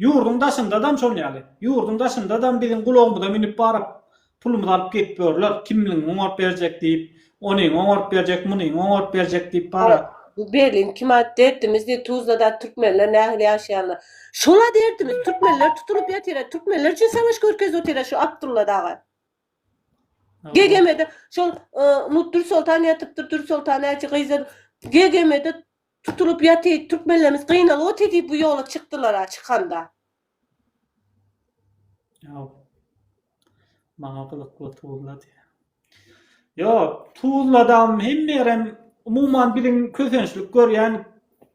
Ýurduň daşyndadam şol ýaly. Ýurduň daşyndadam biziň gulagymyza münüp baryp, pulumyzy alyp gidip ýörler. Kimligiňi oňaryp berjek diýip, onyňy oňaryp berjek, munyňy oňaryp berjek diýip bara. Bu Berlin kima derdimiz diýip Tuzlada türkmenler nähili ýaşaýanlar. Şola derdimiz, türkmenler tutulyp ýatyra, türkmenler üçin savaş görkezip otyra şu Abdulla daga. GGM-de şol Mutdursoltan ýatypdyr, Dursoltan äçi gyza GGM-de Tutulyp ýaty türkmenlerimiz gynalyp oty diýip bu ýola çykdylara çykanda. Ýa maňa gyzykly Tuzla diýýä. Ýok Tuzladam hemme ýerem umuman biziň kösençlik görýän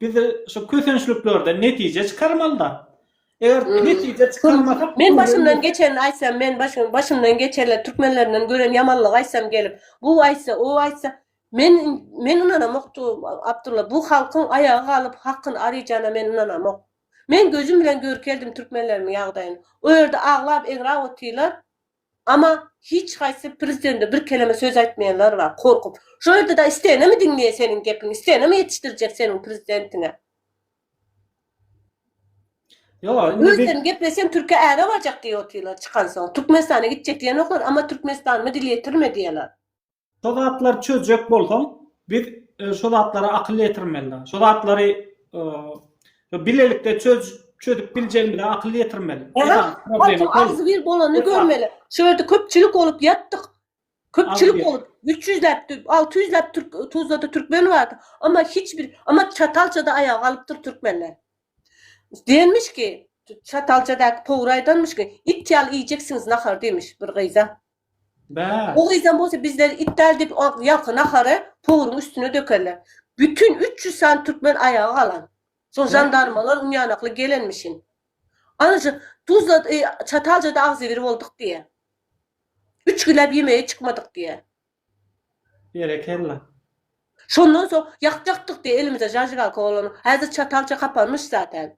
biz şu kösençliklerden netije çykarmalyda. Eger hmm. netije çykarmasak men başymdan geçenini aýtsam men başym başymdan geçenler türkmenlerinden gören ýamanlygy aýtsam gelip bu aýtsa o aýtsa Men men ynanamokdy, Abdulla, bu halkyň aýaga galyp hakyny araýjana men ynanamok. Men gözüm bilen görkeldim türkmenlerimiň ýagdaýyny. O ýerde aglap eňräp otyrlar, ama hiç haýsy prezidende bir keleme söz aýtmaýanlar bar, korkup. Şo ýerde da isteýenemi diňleýä seniň gepiňi, isteýenemi ýetişdirjek seniň prezidentiňe. Ýok, indi Öz sen gepleseň türkiýe äre barjak diýip otyrlar çykansoň. Türkmenistana gitjek diýenoklar, ama Türkmenistanymy dile getirme diýýärler. Şo zatlary çözjek bolsaň, biz e, şo zatlara akyl ýetirmeli. Şo zatlary e, bilelikde çöz çözüp biljegimize akyl ýetirmeli. Problema agzy bir bolany görmeli. Şu ýerde köpçülik bolup ýatdyk. Köpçülik bolup 300-läp, 600-läp türk Tuzlada türkmen bardy. Amma hiç bir, amma çatalçada aýaga galypdyr türkmenler. Denmiş ki, çatalçadaky powur aýdanmyş ki, it ýaly iýjeksiňiz nahar demiş bir gyza. O gyzam bolsa bizleri it däl diýip ýalka nahary powuryň üstüne dökerler. Bütin üç ýüz sany türkmen aýaga galan. Soň žandarmalar ünýanakly gelenmişin. Ana şu Tuzla Çataljada agzybir bolduk diýýä. Üç günläp ýemege çykmadyk diýýä. Berekella. Şondan soň ýakjakdyk diýýä elimize zažigalka bolany. Häzir Çatalja kapanmyş zaten.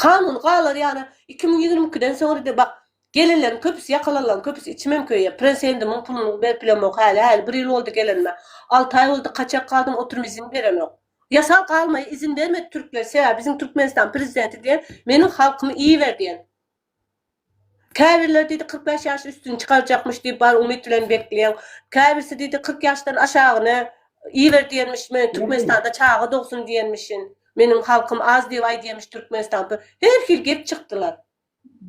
Kanun galar ýaly iki müň ýigrimi ikiden soňra de bak gelenleriň köpüsi ýakalanlaň köpüsi içimem köýýä presendimin puluny berip bilemok häli häli bir ýyl boldy gelenime alty aý boldy kaçak galdym oturum izin berenok ýasal galmaýa izin bermedi türkler sebäbi biziň türkmenistan prezidenti diýen meniň halkymy iýiber diýen Käbirleri diýdi kyrk bäş ýaş üstüni çykarjakmyş diýip bar umyt bilen bekleýäň. Käbirsi diýdi kyrk ýaşdan aşagyny iber diýenmiş men Türkmenistanda çaga dogsun diýenmişin. Meniň halkym az diýip aýdýamiş Türkmenistan. Her hil gep çykdylar.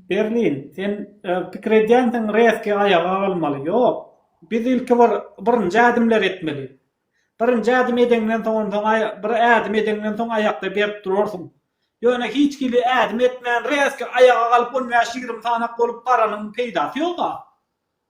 Berlin sen pikir edýänsiň rezki aýaga galmaly. Ýok. Biz ilki bir birinji ädimleri etmeli. Birinji ädim edeňden soň onsoň bir ädim edeňden soň aýakda berk durarsyň. Ýöne hiç hili ädim etmän rezki aýaga galyp on bäş ýigrimi sanak bolup baranyň peýdasy ýoga.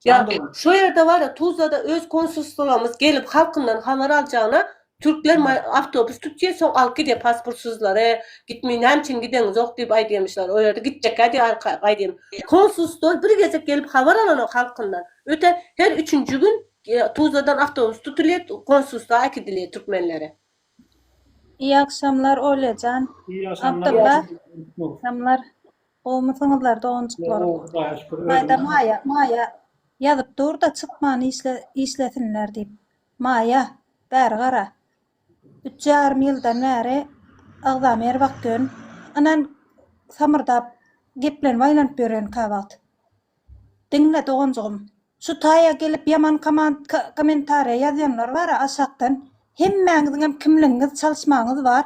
Ýagny şo ýerde bar-a Tuzlada öz konsulstwamyz gelip halkyndan habar aljagyna türkler awtobus tutýa soň alyp gidýa pasportsyzlary gitmeý näme üçin gideňizok diýip aýdýamyşlar o ýerde gitjekkä diýar gaýdym konsulstwa bir gezek gelip habar alanok halkyndan öte her üçünji gün Tuzladan awtobus tutulýar, konsulstwa äkidilýär türkmenlere. Iyi agşamlar Olyajan, Abdylla agşamlar gowmysyňyzlar doganjyklarym Maýda Maýa Maýa ýazyp durda çykman işlesinler diýip Maýa bäri gara üç ýarym ýyldan bäri agzam her wagt ýön ynan samyrdap geplenip aýlanyp ýörenka wagt diňle doganjygym. Şu taýa gelip ýaman komentariýa ýazýanlar bara aşakdan hemmäňiziňem kimligiňiz çalyşmaňyz bar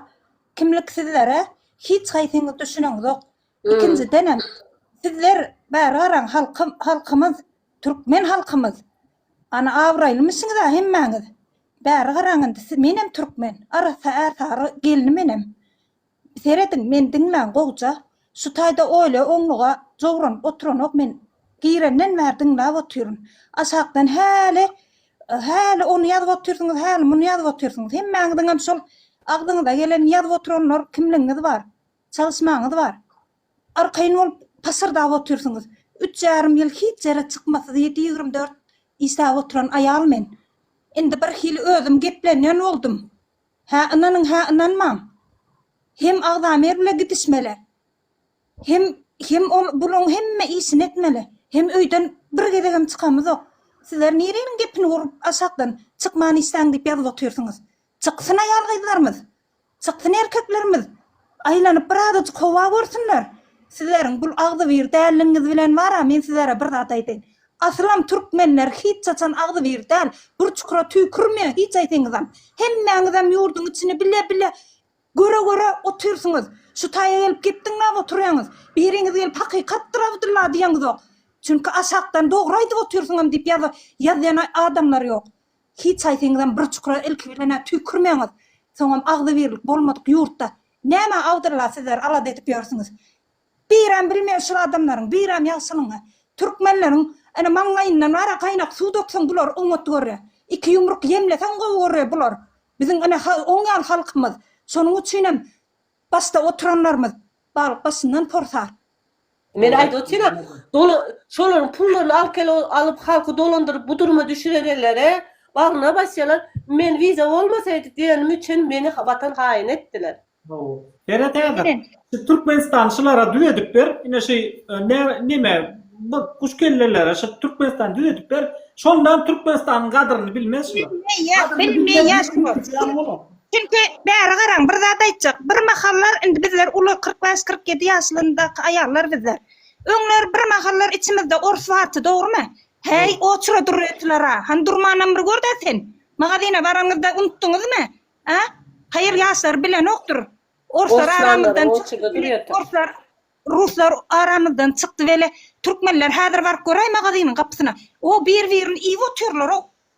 kimlik sizlere hiç haýsyňyz düşüneňzok ikinjidenem sizler bäri garaň halkymyz türkmen halkymyz ana abraýlymyşyňyza hemmäňiz bäri garaň indi menem türkmen arassa ärsary gelni menem Serediň men diňlän gowja şu taýda oýla oňluga jowranyp oturanok men girenden bäri diňläp otyryn aşakdan häli häli ony ýazyp otyrsyňyz häli muny ýazyp otyrsyňyz hemmäňiziňem şol agzyňyza gelenini ýazyp oturanlar kimligiňiz bar çalyşmaňyz bar arkaýyn bolup pyşyrdap otyrsyňyz üç ýarym ýyl hiç ýere çykmasyz ýedi ýigrimi dört işläp oturan aýal men indi birhili özüm geplenýän boldum Hä ynanyň hä ynanmaň. Hem agzamyr bile gidişmeli. Hem hem ol bulaň hemme işini etmeli. Hem öýden bir gezegem çykamyzok. Sizler nireniň gepini gurup aşakdan çykman işläň diýip ýazyp otyrsyňyz. Çyksyn aýal gyzlarymyz. Çyksyn erkeklerimiz. Aýlanyp bir azajyk howa görsünler. Sizleriň bul agzybir dälligiňiz bilen bar-a men sizlere bir zat aýdaýyn. Asylam türkmenler hiç haçan agzybir däl, bir çukura tüýkürmeýän hiç aýsyňyzam. Hemmäňizem ýurduň içini bile bile göre göre otyrsyňyz. Şu taýa gelip gepdiňläp otyrýaňyz. Biriňiz gelip hakykatdyr Abdylla diýeňizok. Çünki aşakdan dogry aýdyp otyrsyňam diýip ýaza ýazýan adamlar ýok. Hiç haýsyňyzam bir çukura ilki bilen-ä tüýkürmeňiz. Soňam agzybirlik bolmadyk ýurtda nämä Abdylla sizler alada edip ýörsüňiz? Birem bilmeýär şul adamlaryň birem ýagşylygyňy. Türkmenleriň ene maňlaýyndan bar-a gaýnak suw dökseň bular oňat görýä. Iki ýumruk ýemleseň gowy görýä bular. Biziň ene oň ýaly halkymyz. Şonuň üçinem Başda oturanlarymyz balyk başyndan porsar. Men aýdyp otyryn, dola şolaryň pullaryny alyp kel alyp halky dolandyryp bu duruma düşürerenlere bagryna basýalar, men wiza bolmasaýdy diýenim üçin meni watan haýyny etdiler. Hawa. Berat aga, şu Türkmenistany şulara düz edip ber, ine şu neme bu guş kellelere şu Türkmenistany düz edip ber, şondam Türkmenistanyň gadyryny bilmez şular. Bilmeýär, bilmeýär şular. Çünki, bäri garaň, bir zat aýtjak, birmahallar, indi bizler uly, kyrk bäş, kyrk ýedi ýaşlaryndaky aýallar bizler. Öňler birmahallar içimizde ors bardy, dogrumy? Häý, oçura dur öýtüler-a! Hany durmanam bir gör-dä sen! Magazyna baranyňyzda unutdyňyzmy? A? Haýyr, ýaşlar bilenokdyr. Orslar aramyzdan çykdy weli, orslar, ruslar aramyzdan çykdy weli, türkmenler häzir baryp göräý magazynyň gapysyna. O, bir-birini iýip otyrlar-ow!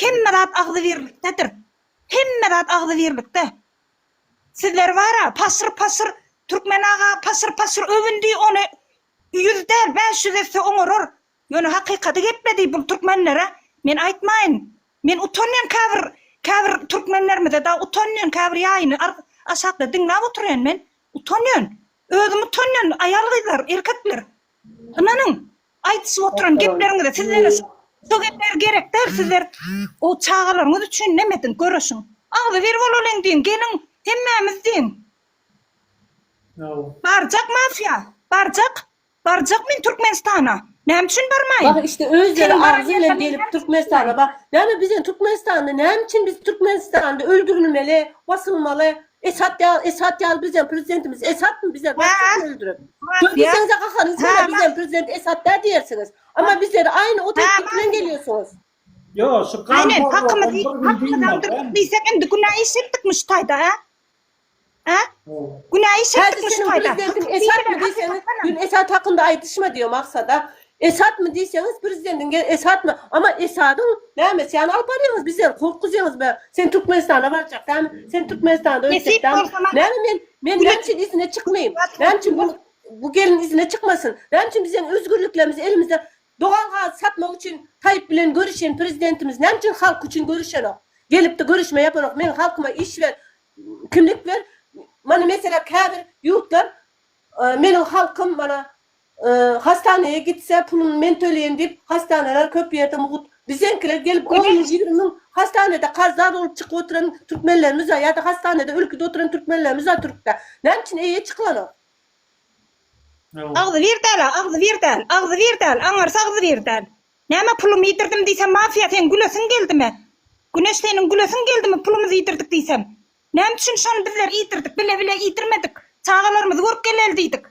Hemme zat agzybirlikdedir. Hemme zat agzybirlikde. Sizler bara pasyr pasyr Türkmen aga pasyr pasyr öwündi ony ýüz däl bäş ýüz etse oňarar. Ýöne hakykady gepledi bul türkmenlere men aýtmaýyn. Men utanýan käbir käbir türkmenlerimize da utanýan käbir ýaýyny aşakda diňläp oturýan men utanýan. Özüm utanýan aýal gyzlar erkekler. Ynanyň Aýdyşyp oturan gepleriňizi sizlere şo gepler gerek däl sizler o çagalaryňyz üçin neme ediň göreşiň agzybir bolalyň diýiň geliň hemmämiz diýiň. Barjak mafýa barjak barjak men Türkmenistana näme üçin barmaýyn. Bah işte özleri agzy bilen gelip Türkmenistana bah näme bizden Türkmenistanda näme üçin biz Türkmenistanda öldürilmeli basylmaly Esat ýaly, Esat ýaly bizem prezidentimiz Esatmy bizler Esatmy öldürip. Söz diýseňiz-ä kakanyň söýle bizem prezident Esat dä diýersiňiz. Amma bizleri aýny o teklip bilen gelýärsiňiz. Ýok şu gan Aýnen hakymyz hakymyz aldyryp diýsek indi günä iş etdikmi şu taýda a? A? Günä iş etdikmi şu taýda? Häzir seniň prezidentiň Esatmy diýseňiz, ýöne Esat hakynda aýdyşma diýýär Maksada. Esadmy diýseňiz prezidentiň gel Esadmy ama Esadyň näme sen alyp barýaňyz bizleri gorkuzýaňyz be sen Türkmenistana barjak dämi sen Türkmenistanda öýtjek dämi näme men men näme üçin izine çykmaýyn näme üçin bu bu gelin izine çykmasyn näme üçin bizden özgürliklerimizi elimizde dogan gazy satmak üçin Taýyp bilen görüşen prezidentimiz näme üçin halk üçin görüşenok gelipdi görüşme ýapanok meň halkyma iş ber kimlik ber mana meselä käbir ýurtlar meniň halkym mana Hastaneye gitse pulun men töleýin diyip hastaneler köp ýerde mugut bizeňkiler gelip on müň ýigrimi müň hastanede karzar bolup çykyp oturan türkmenlerimiz bar ýada hastanede ölküde oturan türkmenlerimiz bar türkde näme üçin eýe çykylanok. Agzybir däla agzybir däl agzybir däl aňyrsy agzybir däl näme pulum ýidirdim diýsem mafiýa seň gülesiň geldimi güneş seniň gülesiň geldimi pulumyzy ýidirdik diýsem Näme üçin şony bizler iýdirdik, bile bile iýdirmedik, çagalarymyzy görüp geleli diýdik.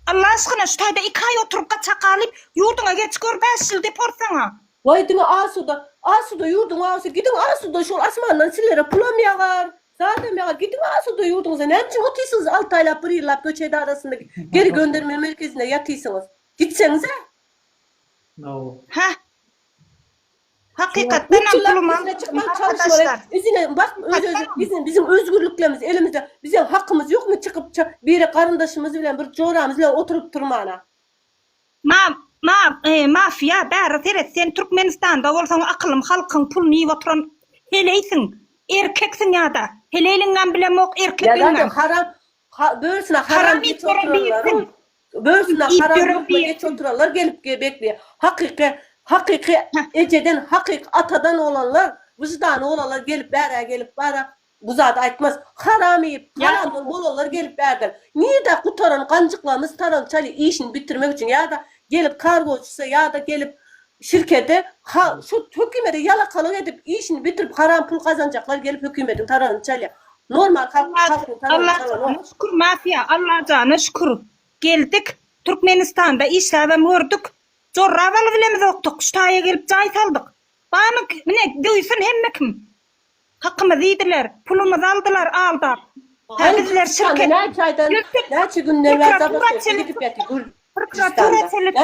Alla aşkyna şu taýda iki aý oturyp gaçak galyp, ýurduňa geç gör bäş ýyl deport saňa. Waý diňe asuda, asuda ýurduň agasy gidiň asuda şol asmandan silere pulam ýagar, zadam ýagar gidiň asuda ýurduňyza näme üçin otysyňyz alty aýlap bir ýyllap göç edarasynda geri gönderme merkezinde ýatysyňyz gitseňizä. Heh. Hakykatdanam pulum al. Arkadaşlar. Üzüne bak öz öz bizim bizim özgürliklerimiz elimizde. Bize hakymyz yokmy çykyp ça biri garyndaşymyz bilen bir joramyz bilen oturup turmana. Ma ma mafya bäri seret sen Türkmenistanda bolsaň akylym halkyň pulun iyip oturan heleýsiň erkeksiň yada heleýliňem bilemok erkegiňem. Yada haram ha börsine haram ýitip oturanlaryň Börsüne haram lukma geç oturanlar gelip bekleýär. Hakyky hakyky ejeden hakyky atadan olanlar wyždany bolanlar gelip bärä gelip bara bu zady aýtmaz. Haram iýip haramdan bolanlar gelip bärden nirde gutaran ganjyklarymyz tarançaly işini bitirmek üçin ýada gelip kargoçysa ýada gelip Şirkete ha şu hökümede ýalakalyk edip işini bitirip haram pul gazanjaklar gelip hökümediň taragyny çalýar. Normal halk halkyň taragyny çalanok. Allajana şükür mafiýa Allajana şükür geldik Türkmenistanda işläbem gördük jorra baly bilemizokdyk şu taýa gelip jaý saldyk. Bamy mine döýsün hemme kim. Hakymyzy iýdiler, pulumyzy aldylar aldap. Hä bizler şirket döwdük, prokuratura çelip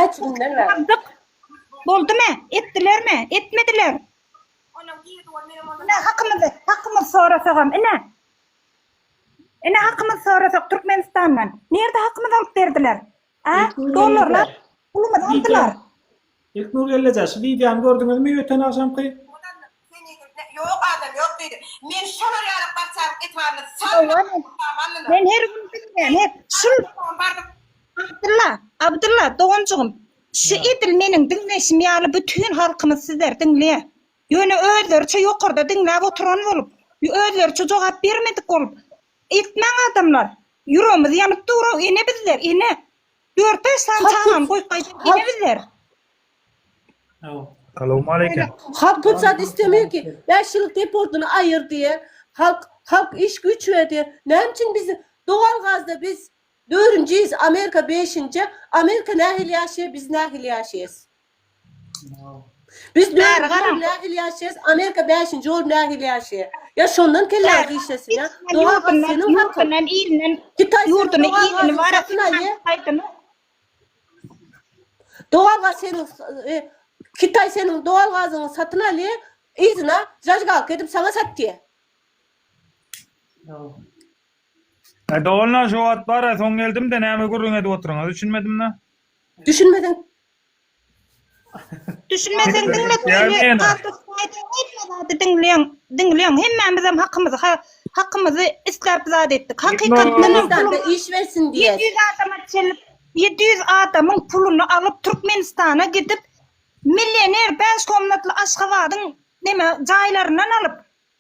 Boldumy? Etdilermi? Etmediler. Ine hakymyzy, hakymyzy sorasagam ine. Ine hakymyzy sorasak Türkmenistandan. Nirde hakymyzy alyp berdiler? Ä, Ilknur dollarlar gelneje. pulumyzy Wideo. aldylar. Ilknur gelneje, şu wideony gördüňizmi öten agşamky? Ýok adam ýok diýdi. Men şolar ýaly barçalyk etibarly Hawa, men, salma. men her gün bilýän, her, şul, Abdylla, Abdylla, doganjygym, şu edil meniň diňleýşim ýaly bütin halkymyz sizleri diňleýär. Ýöne özleriçe ýokarda diňläp oturan bolup, özleriçe jogap bermedik bolup, Etmäň adamlar. Ýüregimiz ýanyp durow ene bizler ene. Dört bäş sany çagany goýup gaýdan ene bizler. Salowmaleýkim. Halk pul zat istemir ki. Bäş ýyllyk deportyny aýyr diýe. Halk halk iş güýç ber diýe. Näme üçin biz dowal gazda biz dörünjiyiz amerika beşinje amerika nähili ýaşaýa biz nähili ýaşaýas. Biz dördünji orun nähili ýaşaýas Amerika bäşinji orun nähili ýaşaýa ýa şondan kelläňiz işlesin ýa doga gal seniň hakyň Hytaý seniň doga gal satyn al ýe doga gal seniň Hytaý seniň doga gazyňy satyn al ýe yzyna zajgalka edip saňa satýa. Doganlar şu wagt bara soň geldimde näme gürrüň edip oturyňyz düşünmedimda. Düşünmeseň Düşünmeseň diňle söýli galdyk saýdyň hemme zady diňleýäň diňleýäň hemmämizem hakymyzy ha hakymyzy isläp zat etdik hakykatdanam pulumyz iş bersin diýäs ýedi ýüz adama çenli ýedi ýüz adamyň puluny alyp türkmenistana gidip millioner bäş komnatly aşgabadyň neme jaýlaryndan alyp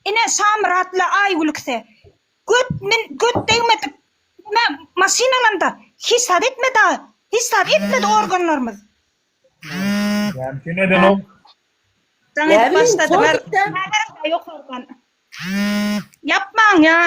ine şamyrat bilen aýgülkse Göt men göt degmedik me maşyn alanda hiç zat etme da hiç zat etmedi organlarymyz. Ýani sen edenok. Jaň edip başladylar. Ýokardan. Ýapmaň ýa.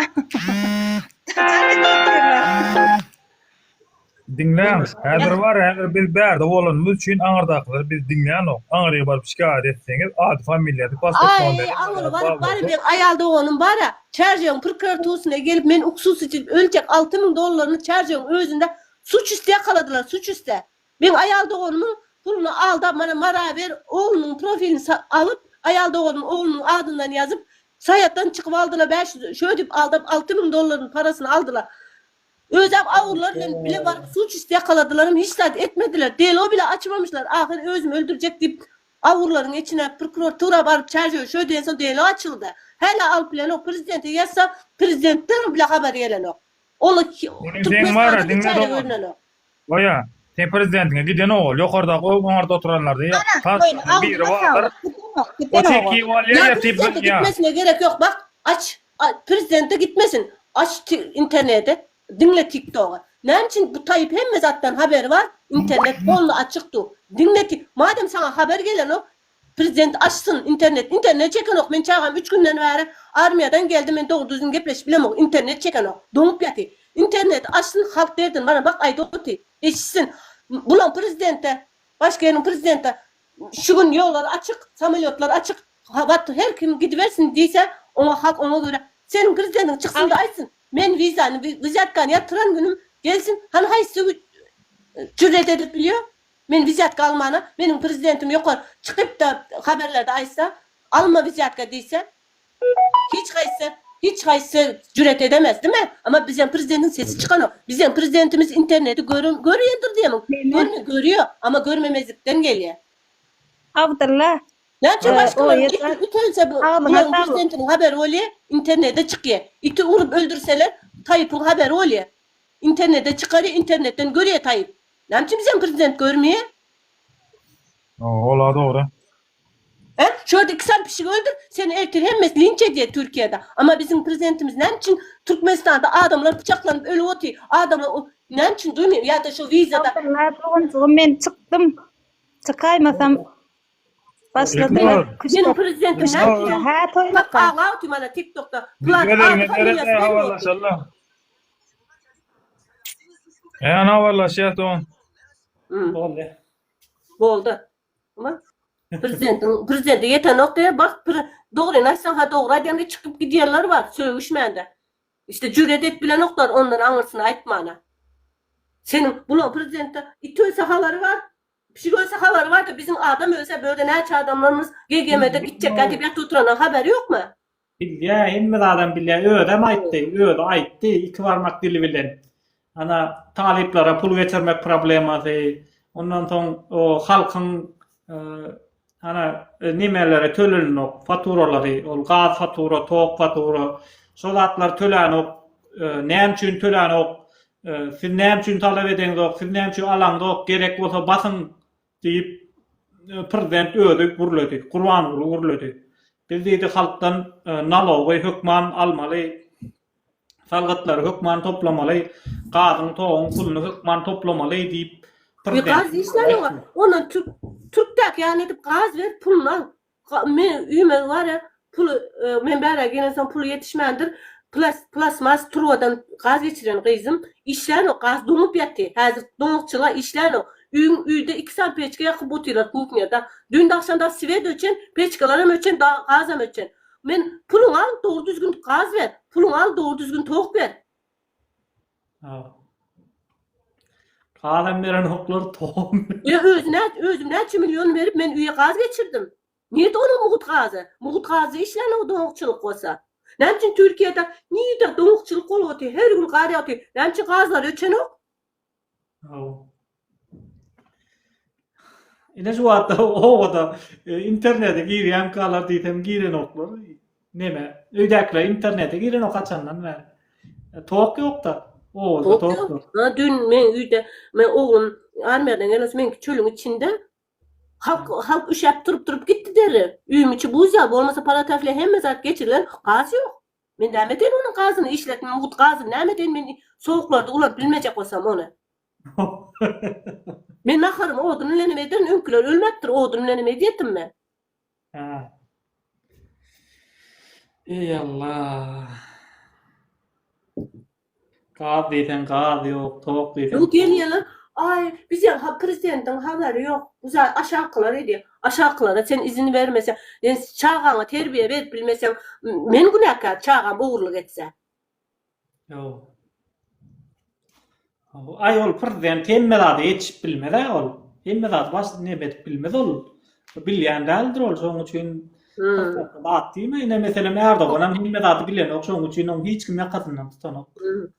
Diňläň, häzir bar, häzir biz bärde bolanymyz üçin aňyrdakylary biz diňlänok. Aňyrýa baryp şikaýat etseňiz, ady familiýasy pasport nomeri bilen Aňyry baryp bary bir aýal doganym bara, Çärjewiň prkuratusine gelip men uksus içilip ölçek alty müň dollaryny Çärjewiň özünde suç üsti ýakaladylar, suç üste. Men aýal doganymyň puluny aldap mana Maraber oglunyň profilini sa alyp aýal doganym oglunyň adyndan ýazyp saýatdan çykyp aldyla bäş ýüz şödip aldap alty müň dollaryny parasyny aldyla. Özem awrular bilen bile baryp suç üsti ýakaladylaram hiç zat etmediler delo bile açmamyşlar ahyr özüm öldürjek diýip awrularyn içine prokuratura baryp çaýjy şo diýen soň delo açyldy hälä alyp bilenok prezidente ýazsa prezidentden bile habar gelenok ol türkmenistanda hiç ýerde görnenok. Goýa, seň prezidentiňe giden ogul, ýokardaky oňarda oturanlardy ýa tas biri bardyr, o çeki bolýa ýa tibbiň ýa. Gitmesine gerek ýok bak aç prezidente gitmesin aç internete diňle tiktoga näme üçin bu taýyp hemme zatdan haberi bar internet polny açyk du diňle madem saňa haber gelenok Prezident açsyn internet internet çekenok men çagam üç günden bäri armiýadan geldi men dogry düzgün gepleşip bilemok internet çekenok doňup ýaty interneti açsyn halk derdini bana bak aýda oty eşitsin bulaň prezidente başgeniň prezidente şu gün ýollar açyk samolýotlar açyk habat her kim gidibersin diýse oňa halk oňa görä seniň prezidentiň çyksynda aýtsyn men wizany wizýatkany ýatyran günüm gelsin hany haýsy jürýet edip bilýo Men wizýatka almana meniň prezidentim ýokar çykypda haberlerde aýtsa alma wizýatka diýse hiç haýsy hiç haýsy jüret edemez dime ama bizem prezidentiň sesi çykanok bizem prezidentimiz interneti gören görýändir diýemiň görme görýä ama görmemezlikden gelýä. Abdylla Näçe başgalar iti ütense bu bularyň prezidentiniň haberi bolýa internete çykýa iti urup öldürseler taýypyň haberi bolýa internete çykarýa internetden görýä taýyp Näme üçin bizem prezident görmi? Hoo ola dogry. He? Şu ýerde iki sany pişigi öldür, seni ertir hemmesi linç edýär Türkiýede. Amma biziň prezidentimiz näme üçin Türkmenistanda adamlar pyçaklanyp ölüp otyr. Adamlar o näme üçin duýmaýar ýa-da şu wizada. Salam doganjygym men çykdym çykaýmasam başladylar küs Meniň prezidentim näme üçin? Hä toýlaka. Agla otyr mana tiktokda. Plan Gitmeden Adyň gidere familiýasy näme boldy? habarlaşallar. Ýa na barlaşýas do. Boldy. Boldy. Ama prezidentiň prezidenti ýetenok diýip bak dogryny aýtsaň ha dogry aýdýan çykyp gidýärler bar sögüşmände. İşte jüret edip bilenoklar ondan aňyrsyny aýtmana. Seniň bulaň prezidentde it ölse habary bar, pişik ölse habary bar da biziň adam ölse bu ýerde näçe adamlarymyz GGM-de gitjekkä diýip ýatyp oturanyň habary ýokmy? Bilýä, hemme zadam bilýä. Özem aýtdy, özi aýtdy, iki barmak dili bilen. Ana, talyplara pul geçirmek problemasy, ondan soň o halkyň ana nemeleri tölenenok, faturalary, ol gaz fatura, tok fatura, şo zatlar tölenok, näme üçin tölenok, siz näme üçin talap edeňzok, siz näme üçin alaňzok, gerek bolsa basyň, Diýip, prezident özi gürledi. Gurbanguly gürledi. Biz diýdi, halkdan nalogy hökman almaly, salgytlary hökman toplamaly, gazyň, toguň puluny hökman toplamaly diýip, prezident. Gaz hiç nalogy. Ondan türk türkdäki ýaly edip gaz ber, puluny al. Men üýmegi barä puly men bärä gelensoň puly ýetişmändir, plas plasmas turbadan gaz geçiren gyzym işlänok gaz doňup ýaty häzir doňakçyla işlänok üýň üýde iki sany peçka ýakyp otyrlar kuhnýada dün dagşam da swet öçen peçkalaram öçen da gazam öçen men puluňy al dogry düzgün gaz ber puluňy al dogry düzgün tok ber. Gazam beren hoklar tohum. Ýa özüne özüm näçe million berip men üýe gaz geçirdim. Nirde onuň mugut gazy? Mugut gazda işlänok doňakçylyk bolsa. Näme üçin Türkiýede nirde doňakçylyk bolupty her gün gar ýagty näme üçin gazlar öçenok? Ine şu wagtda obada e, internete girýänkalar diýsem girenoklar. Neme? Öýdäkiler internete girenok haçandan bäri. E, tok ýokda. Obada tok ýok. Ha, dün men öýde, men oglum armiýadan gelip, meňki çölüň içinde halk halk üşäp turup-turup gitdi deri. Öýüň içi buz ýaly bolmasa palatafle hemme zat geçirilen, gaz ýok. Men näme eden onuň gazyny işletdim, mut gazyny näme eden men sowuklarda ulanyp bilmejek bolsam ony. Men naharymy odun bilenem ederin, öňküler ölmepdir, odun bilenem edýärdim men. Hä. Eý Allah. Gaz diýseň gaz ýok, tok diýseň. Ýok gelýärler. Aý, biz ýa ha prezidentiň habary ýok. Bu zat aşakylar edýär. Aşakylara sen izin bermeseň, sen çagaňa terbiýe berip bilmeseň, men günäkär çagam ogurlyk etse. Ýok. Aý ol prezident hemme zada ýetişip bilmez-ä ol. Hemme zady baş neme edip bilmez ol. Bilýän däldir ol şoň üçin zat diýme. Ine meselem Erdoganam hemme zady bilenok şoň üçin oň hiç kim ýakasyndan tutanok.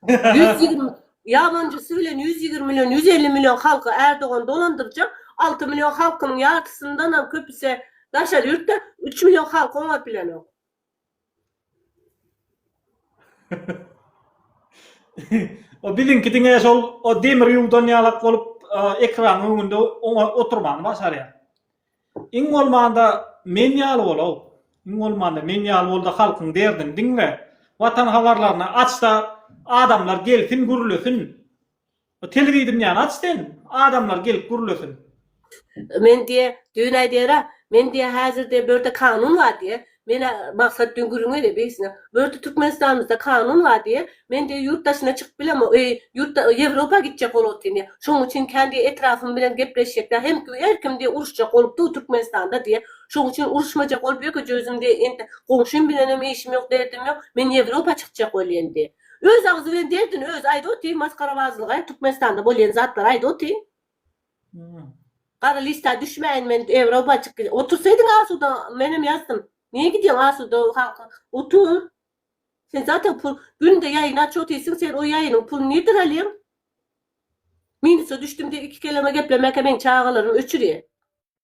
Ýüz ýigrimi ýabanjysy bilen ýüz ýigrimi million, ýüz elli million halky Erdogan dolandyrjak. Alty million halkynyň ýarysyndanam köpüsi daşary ýurtda. Üç million halky oňat bilenok. O biziňki diňe şol o demir ýuwdan ýalak bolup ekranyň öňünde oňa oturmany başarýar. Iň bolmanda men ýaly bol-ow. Iň bolmanda men ýaly bol-da halkyň derdini diňle. Watanhawarlaryny aç-da adamlar gelsin gürlesin. Telewideniýäni aç sen, adamlar gelip gürlesin. Men diýe, düýn aýdýara, men diýe häzir diýe bu ýerde kanun bar diýe, menä Maksat düýn gürrüňe diýe birisine, bu ýerde Türkmenistanymyzda kanun bar diýe, men diýe ýurt daşyna çykyp bilemok, eý, ýurtda Ýewropa gitjek bolup otyryn diýe, şonuň üçin kän diýe etrapym bilen gepleşjekdä, hem kim her kim diýe uruşjak bolup dur Türkmenistanda diýe, şonuň üçin uruşmajak bolup ýökeje özüm diýe indi goňşym bilenem işim ýok derdim ýok, men Ýewropa çykjak bolýan diýe. Öz agzy bilen derdini özi aýda otyr maskarabazlyga Türkmenistanda bolýan zatlary aýda otyr. Gara lista düşmäýin men Ewropa çyk otursaýdyň asuda menem ýazdym. Niýe gidýäň asuda halka otur. Sen zaten pul günde ýaýyn aç otyrsyň sen o ýaýynyň pulyny nirden alýaň? Minusa düşdüm diýip iki keleme geplemäkä meň çagalarym öçürýär.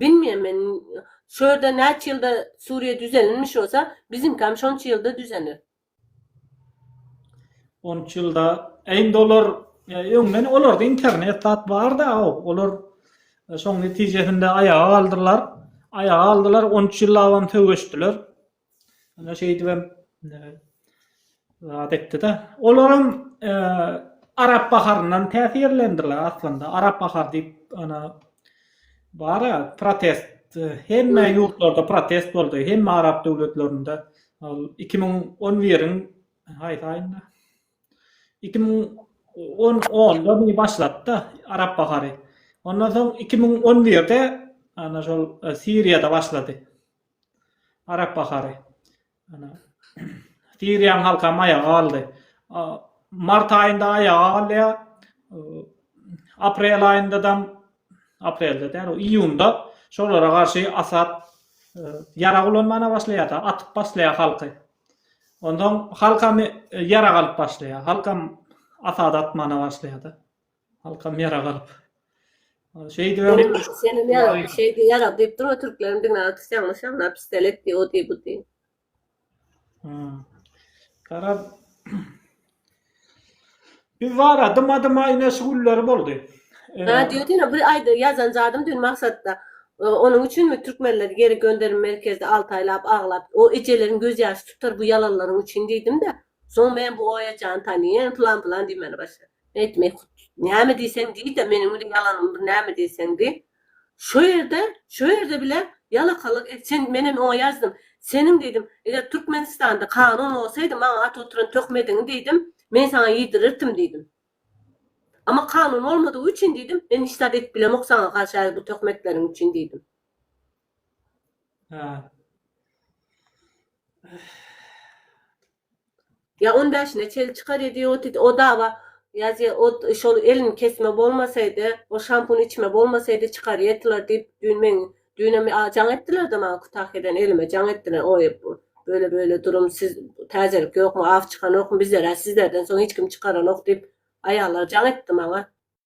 Bilmeýän men şu ýerde näçe ýylda Suriýa düzelinmiş bolsa biziňkäm şonça ýylda düzener. Onç ýylda indi olar öňden olarda internet zat barda olar şoň netijesinde aýaga galdylar aýaga galdylar onç ýyllabam söweşdiler Ýa şeýdibem zat etdi-de. Olaram Arap baharyndan täsirlendiler aslynda. Arap bahary diýip ana bar-a protest. Hemme ýurtlarda protest boldy. Hemme arap döwletlerinde. Ol iki müň on biriň haýsy aýynda? Iki müň on onda mü başlady-da Arap bahary. Ondan soň iki müň on birde ana şol Siriýada başlady. Arap bahary. Ana. Siriýaň halkam aýaga galdy. Mart aýynda aýaga galýa. Aprel aýyndadam, aprelde däl o iýunda şolara garşy Asad ýarag ulanmana başlaýada, atyp baslaýa halky. Onsoň halkam ýarag alyp başlaýa. Halkam Asada atmana başlaýada. Halkam ýara galyp. Şeýdi öň. Seni ýara, şeýdi ýara diýip dur, türkleriň diňe atyş ýalňyş ýalňyş pistolet diýip o diýip bu diýip. Hmm. Garaz. Biz wara dyma dyma ine şu günleri boldy. Ha diýip diýip bir aýdy ýazan zadym dün maksatda. Onuň üçinmi türkmenleri geri gönderim merkezde 6 aýlap aglap, o ejeleriň göz ýaşy tutar bu ýalanlaryň üçin diýdim-de. Soň men bu oýajany tanyýan, plan plan diýmeli başlady. Aýtmaý hut. Näme diýseň diý-de, meniň bile ýalanym bir näme diýseň diý. Şo ýerde, şo ýerde bile ýalakalyk et. Sen, menen oňa ýazdym. Seniň diýdim, eger Türkmenistanda kanun bolsaýdy, maňa at oturan töhmediňi diýdim, men saňa ýedirirdim diýdim. Amma kanun bolmadygy üçin diýdim, men hiç zat edip bilemok saňa garşy häzir bu töhmetleriň üçin diýdim. Hä. Ýa on bäşine çeli çykar edi ýoty di o daba ýazýa ot şol elini kesme bolmasaýdy ol şampun içme bolmasaýdy çykar ýetylar diýip düýn meň düýnem a jaň etdilerde maňa kutahyýadan elime jaň etdiler oý böyle böyle durum siz täzelik ýokmy aw çykanokmy bizlerä sizlerden soň hiç kim çykaranok diýip aýallar jaň etdi maňa.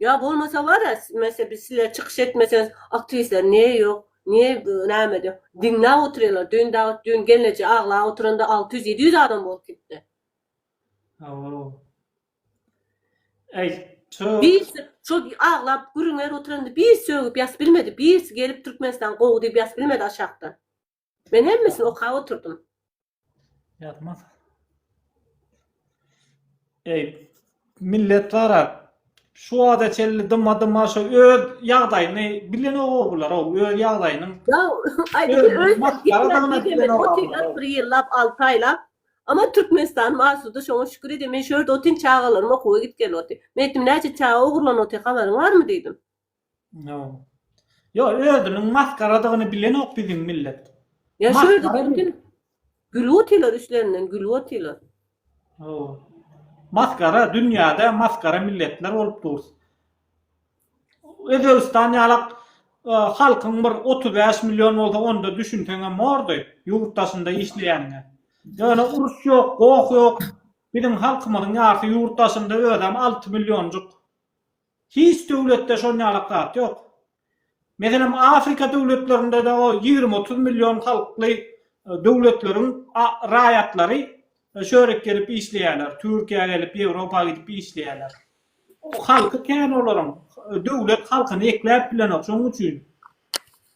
Ýa bolmasa bara mese biz sizler çykyş etmeseňiz aktiwistler niýe ýok niýe nämede diňläp otyrýalar düýn dagy düýn gelneje aglap otyranda alty ýüz ýedi ýüz adam bolup gitdi. Hawa. Aý ço. Birisi şo aglap gürrüň berip otyranda bir sögüp ýazyp bilmedi birisi gelip türkmenistan gowy diýip ýazyp bilmedi aşakdan. Men hemmesini okap oturdym. Ýatmaz. Eý, millet gara, şu wagta çenli dyma-dyma şu öz ýagdaýyny bilenok o bular, o öz ýagdaýynyň. Ýa, aýdyň, öz gitmesini bilenok. Otyrlar bir ýyllap, alty aýlap. Ama Türkmenistanym asuda, şoňa şükür edýän. Men şu ýerde otyryn, çagalarymy okuwa git-gel otyryn. Men aýtdym, näçe çaga ogurlanyp otyr, habaryň barmy diýdim. Yo özüniň maskaradygyny bilenok biziň millet. Ya şu ýerde bütün gülüp otylar üstlerinden gülüp otylar. Yo. Maskara dünýäde maskara milletler bolup durus. Özbekistan ýalak e, halkyň bir 35 million bolsa onda düşünseň hem bordy ýurt daşynda işleýänine. Ýöne uruş ýok, goh ýok. Biziň halkymyzyň ýarsy ýurt daşynda özem 6 millionjyk. Hiç döwletde şonýalak zat ýok. Meselem Afrika döwletlerinde de o ýigrimi otuz million halkly döwletleriň raýatlary şu ýere gelip işleýärler, Türkiýä gelip, Ýewropa gidip işleýärler. Halky kän olaryň. Döwlet halkyny ekläp bilenok, şonuň üçin.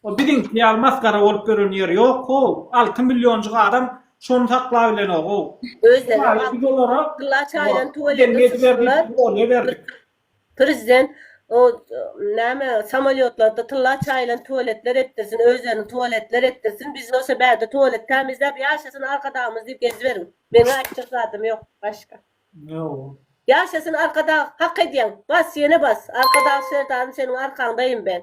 O biziňki ýaly masgara bolup ýören ýeri ýok-ow. Alty millionjyk adam şony saklabilenog-ow. Özlerem alty gylla çaýdan tüweleme tutdular. Prezident o näme samolýotlarda tylla çaýylan tüweletler etdirsin, özlerini tüweletler etdirsin, biz bolsa bärde tüwelet tämizläp ýaşasyn Arkadagymyz diýip geziberiň. Meniň aýtjak zadym ýok başga. Ýaşasyn Arkadag hak edýäň. Bas ýene bas. Arkadag Serdarym seniň arkaňdaýyn ben.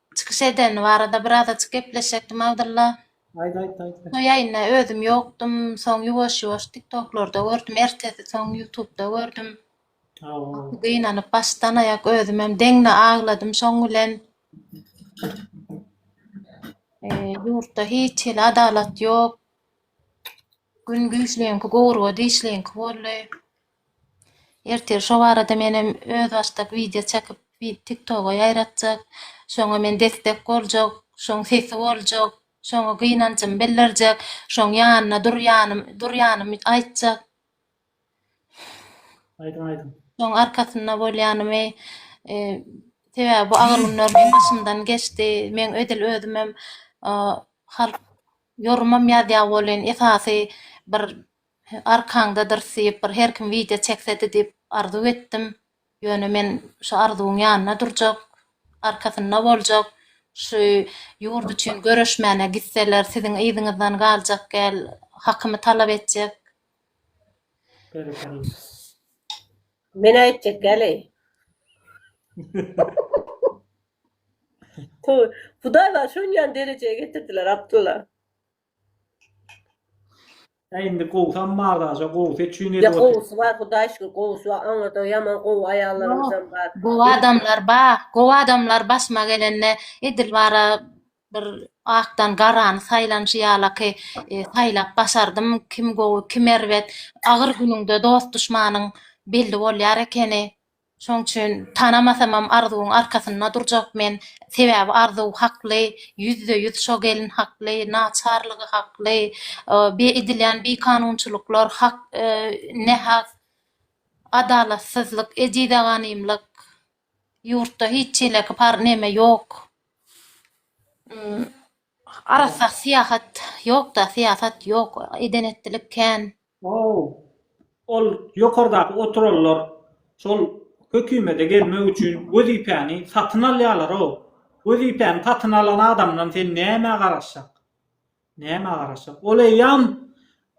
Çykyş edeni barada birazajyk gepleşekdim Abdylla. Aýt aýt aýt. Şo ýaýynda özüm ýokdum, soň ýuwaş ýuwaş tiktoklarda gördüm, ertesi soň ýutubda gördüm. Gaty gynanyp başdan aýak özümem deňne agladym şoň bilen. Ýurtda hiç hili adalat ýok. Gün güýçliňki gowurga dişliňki boldy. Ertir şo barada menem özbaşdak wideo çekip tiktoga ýaýratjak. Şoňa men destek boljak, şoň sesi boljak, şoňa gynanjymy bildirjek, şoň ýanyna durýanym durýanymy aýtjak. Aýdyň aýdyň. Şoň arkasynda bolýanymy sebäbi bu agyr günler meň başymdan geçdi. Meň edil özümem halk ýorumam ýazýa welin esasy bir Arkaňda dyrsyp bir her kim wideo çeksedi diyip arzuw etdim. Ýöne men şu arzuwyň ýanynda durjak, arkasynda boljak, şu ýurt üçin göreşmäne gitseler siziň yzyňyzdan galjak gel, hakymy talap etjek. Men aýtjak geleý. Toý. Hudaý bar şonýan derejä getirdiler Abdylla. He indi gowsy am bar daşa gowsy üçin edip otyr. Gowsy bar hudaý şükür gowsy bar oňada ýaman gowy aýallarymyzam bar. Gowy adamlar bar gowy adamlar başyma gelende edil bara bir akdan garany saýlanyşy ýalaky saýlap başardym kim gowy kim erbet agyr günüňde dost duşmanyň belli bolýar ekeni. Şoň üçin tanamasamam Arzuwyň arkasynda durjak men, sebäbi Arzuw hakly, ýüzde ýüz şo gelin hakly, naçarlygy hakly, be edilýän bikanunçylyklar hak nähak, adalatsyzlyk, ejizaganymlyk, ýurtda hiç çeleki par neme ýok. Arassa syýahat ýokda syýasat ýok eden etdilik kän. Hoow ol ýokardaky oturanlar şol hökümede gelmek üçin wezipäni satyn alýalaroo wezipäni satyn alan adamdan sen nämä garaşjak nämä garaşjak ol eýýam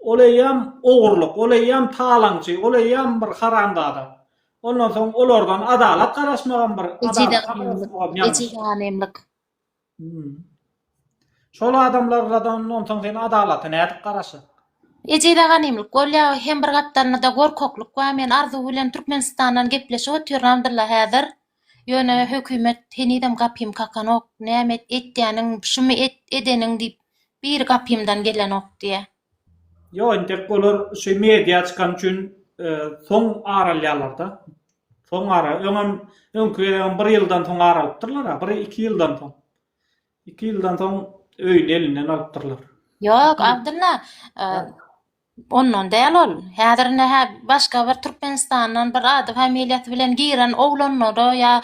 ol eýýam ogurlyk ol eýýam talaňçy ol eýýam bir haramzada ondan soň olardan adalat garaşmagam bir adalat garaşmagam ýalňyş. Şol adamlarladan onsoň sen adalata nädip garaşaň? Ejize ganymlyk bolýa hem bir gapdalynada gorkaklyk bar men arzuw bilen türkmenistandan gepleşip otyramdyrlar häzir ýöne hökümet henizem gapym kakanok näme et etýäniň şumy et edeniň diýip biri gapymdan gelenok diýä. Ýok entek olar şu media çykany üçin soň aralýarlarda. Soň ara öňem öňki gezegem bir ýyldan soň aralypdyrlar ha bir iki ýyldan soň. Iki ýyldan soň öýüni elinden alypdyrlar. Ýok Abdylla ondan däl ol. Häzir ine hä başga bir Türkmenistandan bir ady familiýasy bilen giren oglanlary ýa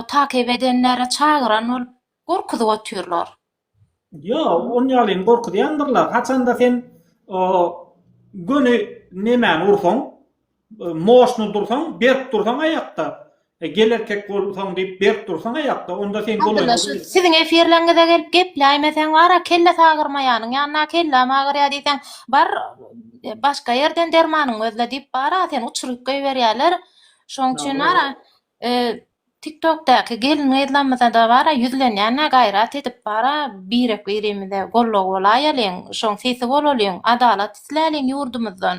takip edenleri çagyran bolup Gorkuzyp otyrlar. Ýok, on ýalyn gorkuzýandyrlar. Haçanda sen o göni nemäni ursaň, moşny dursaň, berk dursaň aýakda, gel erkek bolsaň diýip berk dursaň aýakda, onda sen golaýyňy Abdylla, şu siziň efirleriňize gelip gepläýmeseň bar-a, kelle sagyrmaýanyň ýanyna, kelläm agyrýar diýseň, bar, başga ýerden dermanyňy gözle diýip bar-a, seni uçuryp goýberýärler. Şoň üçin bar-a, Tik tok daky gelin gyzlamyzada bara ýüzlenýänä gaýrat edip bara birek birimize gollow bolaýalyň şoň sesi bolalyň adalat isläliň ýurdumyzdan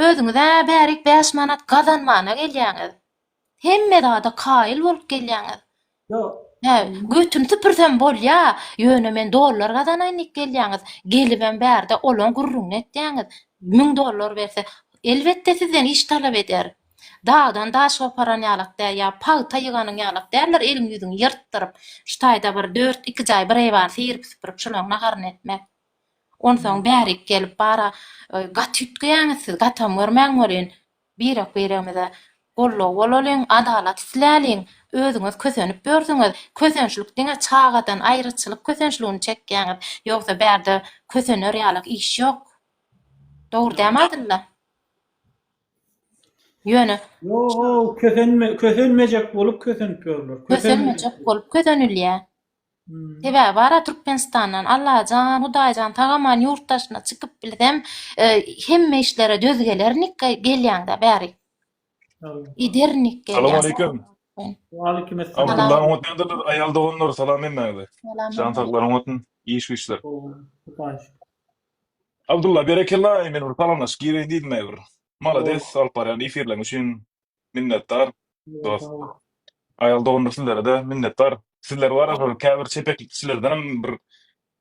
özüňizä bärik bäş manat gazanmana gelýäňiz hemme zada kaýyl bolup gelýäňiz Hä, götüni süpürsem bolýa, ýöne men dollar gazanaýyn diýip gelýäňiz. Gelibem bärde olaň gürrüňini etýäňiz. Müň dollar berse, elbetde sizden iş talap eder. Dagdan daş goparan ýalak däl, ýa pagta ýyganyň ýalak däldir eliň-ýüzüňi ýyrtdyryp, şu taýda bir dört, iki jaý bir eýwany seýrip-süpürip şolaň naharyny etmek. Onsoň bärik gelip bara gaty üýtgeýäňiz siz, gatam görmän welin, Birek-biregimize goldaw bolalyň, adalat isläliň. Özüňiz kösenip ýörsüňiz. Kösençlik diňe çagadan aýraçylyk kösençligini çekýäňiz. Ýogsa bärde kösener ýalyk iş ýok. Dogry dämi Adylla? Ýöne. Ýo-ok, kösenme, kösenmejek bolup kösenip ýörler. Kösenmejek bolup kösenilýär. Sebäbi bara Türkmenistandan Allajan, Hudaýjan sag aman ýurt daşyna çykyp bilsem, hemme işlere döz gelernik, gelýäňdä bäri. Gidernik gelýän. Salam aleýkum. Aleýkum esselam. Abdullaň otyndyr aýal doganlar salam hemmäňize. Jan saglaryň otyn iş güçler. Abdulla berekella men bir salamlaşyp gireýin diýdim aýbir. Malades alyp barýan efirleň üçin Minnetdar dost. Aýal doganlar sizlere-de minnetdar. Sizler bar ya şol käbir çepeklik kişilerdenem bir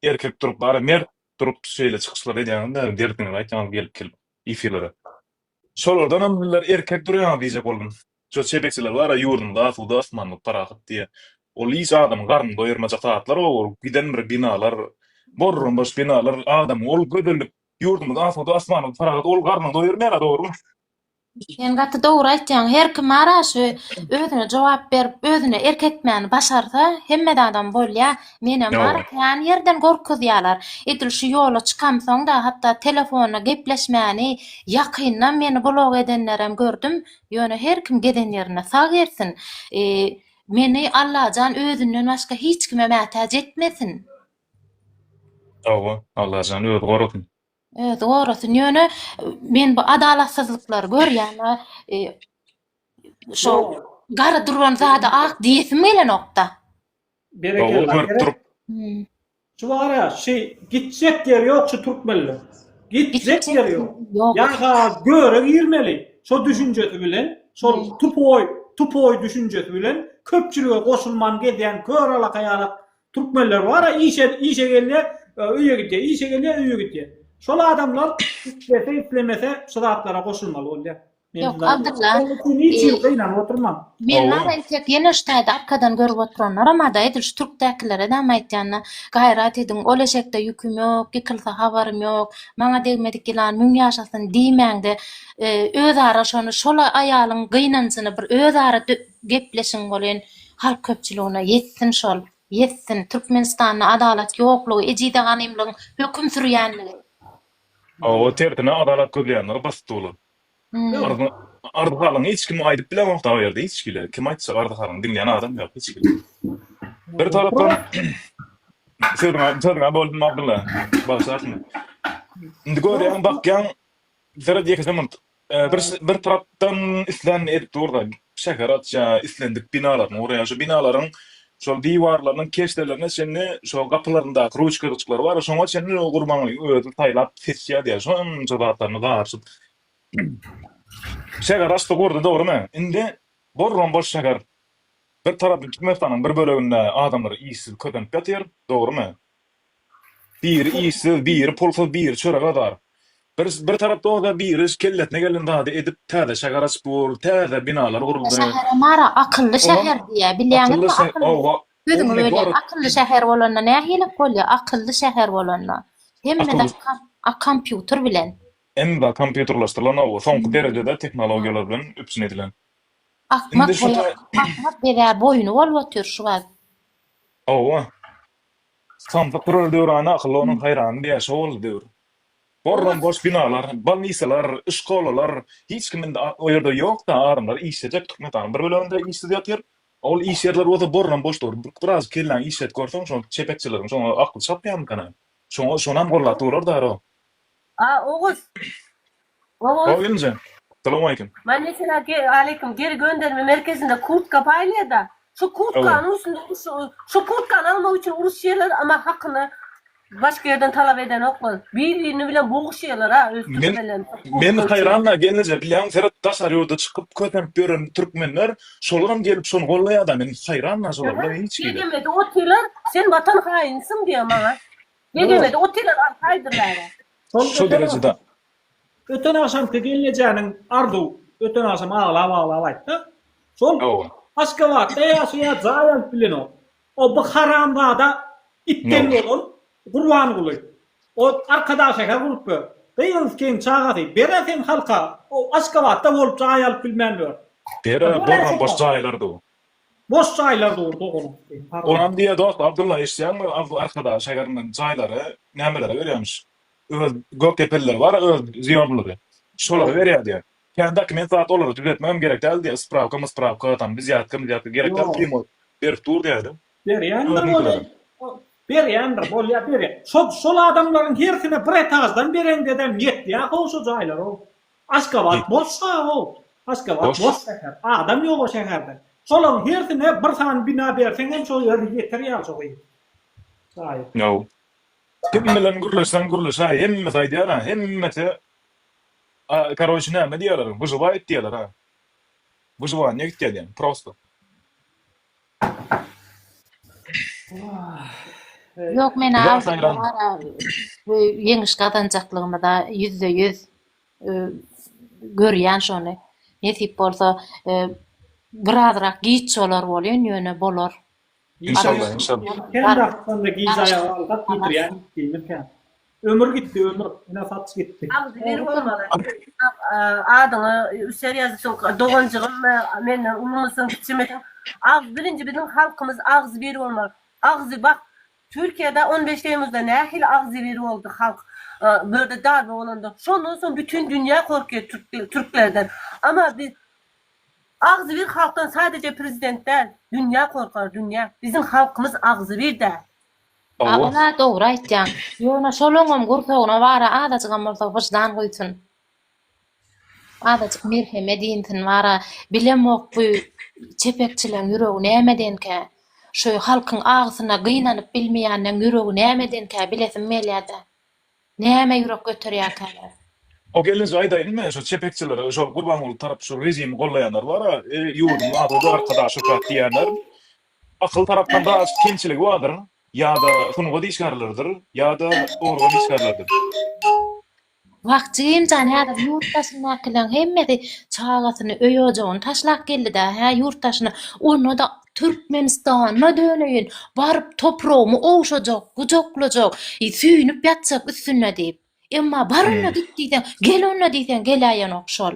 erkek durup bar ya mert durup şeýle çykyşlar edýäňizler derdiňizi aýtýaňyz gelip gelip efirlere. Şolardanam sizler erkek durýaňyz diýjek boldum. Şo çepekçiler bar ya ýurdumyz asuda asmanymyz parahat diýýä. Ol hiç adamyň garnyny doýurmajak zatlar o ol giden bir binalar borromboş binalar adamyň ol gözellik ýurdumyz asuda asmanymyz parahat ol garnyny doýurmaýar-a dogrumy? Sen gaty dogry aýtýaň. Her kim ara şu özüne jogap berip, özüne erk etmäni başarsa, hemmede adam bolýar. Menem bar, Ýok. kän ýerden gorkuzýarlar. Edil şu ýola çykamsoň-da, hatda telefonda gepleşmäni ýakyndan meni blok edenlerem gördüm. Ýöne her kim gezen ýerinde sag gezsin. E, meni Allajan özünden başga hiç kime mätäç etmesin. Hawa, Allajan özi gorasyn. Öz gorasyn ýöne men bu adalatsyzlyklary görýäne e, şo Yo, gara duran zada ak diýesim gelenokda. Berekella. Gowy görüp durup. Hmm. Şu bar ya, şey gitjek yer yok şu Türkmenler. Gitjek yer yok. Yok. Yaga göre girmeli. Şu düşüncesi bilen, şu Evet. tupoy, tupoy düşüncesi bilen köpçülüge koşulman gezen kör alaka yalak Türkmenler bara işe işe gelýär öýe gidýär işe gelýär öýe gidýär. Şol adamlar islese islemese şu zatlara goşulmaly bolýar. Ýok Abdylla. Hiç ýyl gynanyp oturmaň. Men nara entek ýene şu taýda arkadan görüp oturanlaram-a da edil şu türkdäkilere dämi aýtýan-da gaýrat ediň ol eşekde ýüküm ýok ýykylsa habarym ýok maňa degmedik ýylan müň ýaşasyn diýmäňde özara şony şol aýalyň gynanjyny bir özara gepleşiň bolýn Halk köpçüligine ýetsin şol, ýetsin! Türkmenistanda adalat ýoklugy, ejizä ganymlygyň höküm sürýänligi. Hawa tersine adalat gözleýänler basyp durlar. Arz halyňy hiç kim aýdyp bilemok dagy ýerde hiç kile. Kim aýtjak arz halyňy diňleýän adam ýok hiç kile. Bir tarapdan sözüňe sözüňe boldum Abdylla bagyşlarsyň. Indi görýäň bakýaň seret ýekeje murt Bir bir tarapdan islänini edip dur-da, şäher atýa, islendik binalaryny gurýa. Şu binalaryň şol diwarlarynyň keşdelerine çenli, şo gapylaryndaky ruçkajyklary bar, şoňa çenli ol Gurbangulyň özi saýlap seçýä diýýä. Şonça zatlaryny garyşyp şäher açdy, gurdy, dogrymy? Indi borlam-boş şäher. Bir tarapy Türkmenistanyň bir böleginde adamlar işsiz kösenip ýatyr, dogrymy? Biri işsiz, biri pulsuz, biri çörek azar. Bir bir tarapda bolsa biri kellesine gelen zady edip täze şäher açyp dur, täze binalar Akylly guruldy. şähere Mary akylly Olam şäher diýýär. Bilýäňizmi akylly şä akylly owa sözüňi ummy bölýän. gorod Akylly şäher bolanda nähili bolýar? Akylly şäher bolanda hemme akylly zat kom a kompýuter bilen. Hemme zat kompýuterleşdirilen owa soňky derejede tehnologiýalar bilen üpjün edilen. Akmak Indi şu boýa ta akmak bezä boýny bolup otyr şu wagt. Owa. Samsyk turar döwrany Akyl onuň haýrany Bäşe boldy döwür. Gorram goş binalar, bolnisalar, şkolalar, hiç kimin o ýerde ýok-da, adamlar işlejek Türkmenistanyň bir böleginde işsiz ýatyr. Ol iş ýerleri bolsa gorram boş dur. Biraz kelläňi işlet görseň, şo çepekçileriň şoňa akyl çatmaýarmykan-a? Şoňa şonam gollap durlar-da, aro. A, Oguz! Oguz. Oguz Geldijeň. Salowmaleýkim. Men meselä ge aleýkum geri gönderme merkezinde kurtka paýlaýada. Şu kurtkanyň üstünde uruş şu kurtkany almak üçin uruşýarlar ama hakyny başga ýerden talap edenoklar. Bir birini bilen boguşýarlar a öz türkmenlerini şu kurtka üçin. Men haýran da gelnije bilýäňmi seret daşary ýurda çykyp kösenip ýören türkmenler şolaram gelip şony gollaýada men haýran da şolara hiç hili. Sen näme edip otyrlar sen watan haýynsyň diýýä maňa. Degemedi, otyrar alyp haýdyr bäri. Şol Şu derejede. Öten agşamky gelnejäniň Arzuw öten agşam aglap aglap aýtdy. Şol Hawa. Aşgabatda ýaşaýar jaý alyp bilenok. O bu haramzada itden bolan Gurbanguly. O Arkadagşäher bolup ýör. Gyz kyn çagasy. Bera sen halka o Aşgabatda bolup jaý alyp bilmän ýör. Bera bor boş jaýlar du. Boş jaýlar dur doganak. Onam diýýä dost Abdylla eşitýäňmi Arzuw arkadagy şägerinden jaýlary nämelere berýämiş öz gökdepelileri bar öz zýomlary şolara berýä diýýä kän dokument zat olary düzetmegem gerek däl diýýä sprawka mysprawka tam wizýatka mizýatka gerek däl primoý berip dur diýýäýdi Berýändir ony berýändir bolýa berýä şo şol adamlaryň hersine bir etajdan bereňdedem ýetýä how şo jaýlar how Aşgabat bosga o. Aşgabat boş şäher. Adam ýok o şäherde. Şolaň hersine bir sany bina berseň hem şo ýer ýeter ýaly şo gyz. Şaýy. Ýow. Kim bilen gürleşseň gürleş a hemmesi aýdýar a hemmesi a karoç näme diýýärler wyžywaýyp diýýärler a. Wyžywaniýa gitýär diýen prosto. Ýok men ýeňiş gazanjaklygymy-da ýüzde ýüz görýän şony. Nesip bolsa birazrak giç bolar bolýan ýöne bolar. Inşallah inşallah. Kem wagtdan giç aýaga galsak ýitirýäris diýmek ýaly. Ömür gitdi ömür ine saç gitdi. Agzy biri bolmaly. Adyňy üsär ýazypsyň doganjygym menden ulumysyň kiçimiň. Agzy birinji biziň halkymyz agzy biri bolmaly. Agzy bak Türkiýede on beş teýmuzda nähili agzy biri boldy halk bu ýerde darbe bolanda. Şondan soň bütin dünýä gorkýar türklerden. Ama biz agzy bir halkdan sadeje prezident däl dünýä gorkar dünýä. Biziň halkymyz agzy bir däl. Hawa. Ol-a dogry aýtýaň. Ýöne şolaňam gursagyna bar-a azajygam bolsa wyždan guýsun. Azajyk merhem edinsin bar-a. Bilemok bu çepekçileň ýüregi nämedenkä. Şu halkyň agysyna gynanyp bilmeýänleň ýüregi nämedenkä bilesim gelýä-de. Näme ýürek göterýärkäler. O gelin şu aýdaýyň men şu çepekçilere şol Gurbanguly tarap şu režimi gollaýanlar bar-a, e ýurduň ady bar Arkadaşow diýýänler. Akyl tarapdan biraz kemçiligi bardyr, ýa-da sungat işgärleridir, ýa-da organ işgärleridir. Wagçy Gemjan häzir ýurt daşyndakylaň hemmesi çagasyny öý ojagyny taşlap geldidä hä ýurt daşyna onda-da Türkmenistana döneýin baryp topragymy ogşajak gujaklajak süýnüp ýatjak üstünde diýip emma bar onda git diýseň gel onda diýseň geläýenok şol.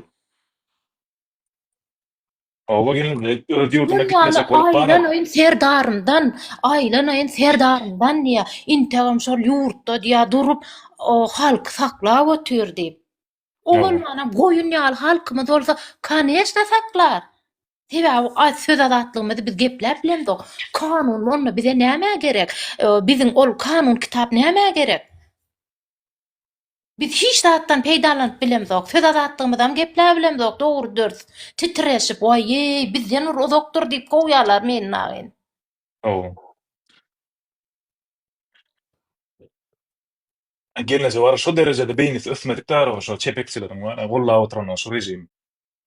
Oba gelende öz ýurduna gitmesek bolup bar. Aýlanaýyn serdarymdan, aýlanaýyn serdarymdan diýýä. Integem şol ýurtda diýýä durup halky saklap otyr diýip. O bolmanam goýun ýaly halkymyz bolsa koneçna saklar. Sebäbi az söz azatlygymyzy biz gepläp bilemzok. Kanun onda bize nämä gerek? Biziň ol kanun kitap nämä gerek? Biz hiç zatdan peýdalanyp bilemzok, söz azatlygymyzam gepläbilemzok, dogry dürs, titreşip, waýýeý, bizden bir uzakdyr diýip kowýarlar meni nagyn. Hawa. Gelneje bar şo derejede beýnisi ösmedik dara şo çepekçileriň bar gollap oturanlar şo režimi.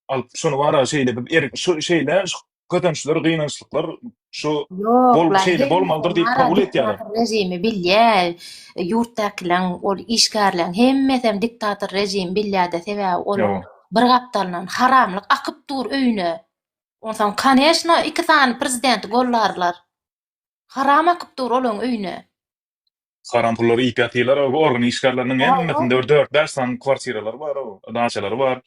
Alyp şuny bara şeýle bir er şu şeýle şu kösençler gynançlyklar şu Ýok, Bol- lan, şeýle hemme bolmalydyr diýip mara kabul edýärler. Diktator režimi bilýär. Ýurtdakylaň, ol işgärleň hemmesem diktator režimi bilýär-de, sebäbi olaň Ýok. bir gapdalyndan haramlyk akyp dur öýüne. Onsoň, koneşno, iki sany prezidenti gollarlar. Haram akyp dur olaň öýüne. Haram pullary iýip ýatyrlar, o organ işgärleriniň Ýa, hemmesinde bir dört-bäş sany kwartiralary bar, o daçalary bar.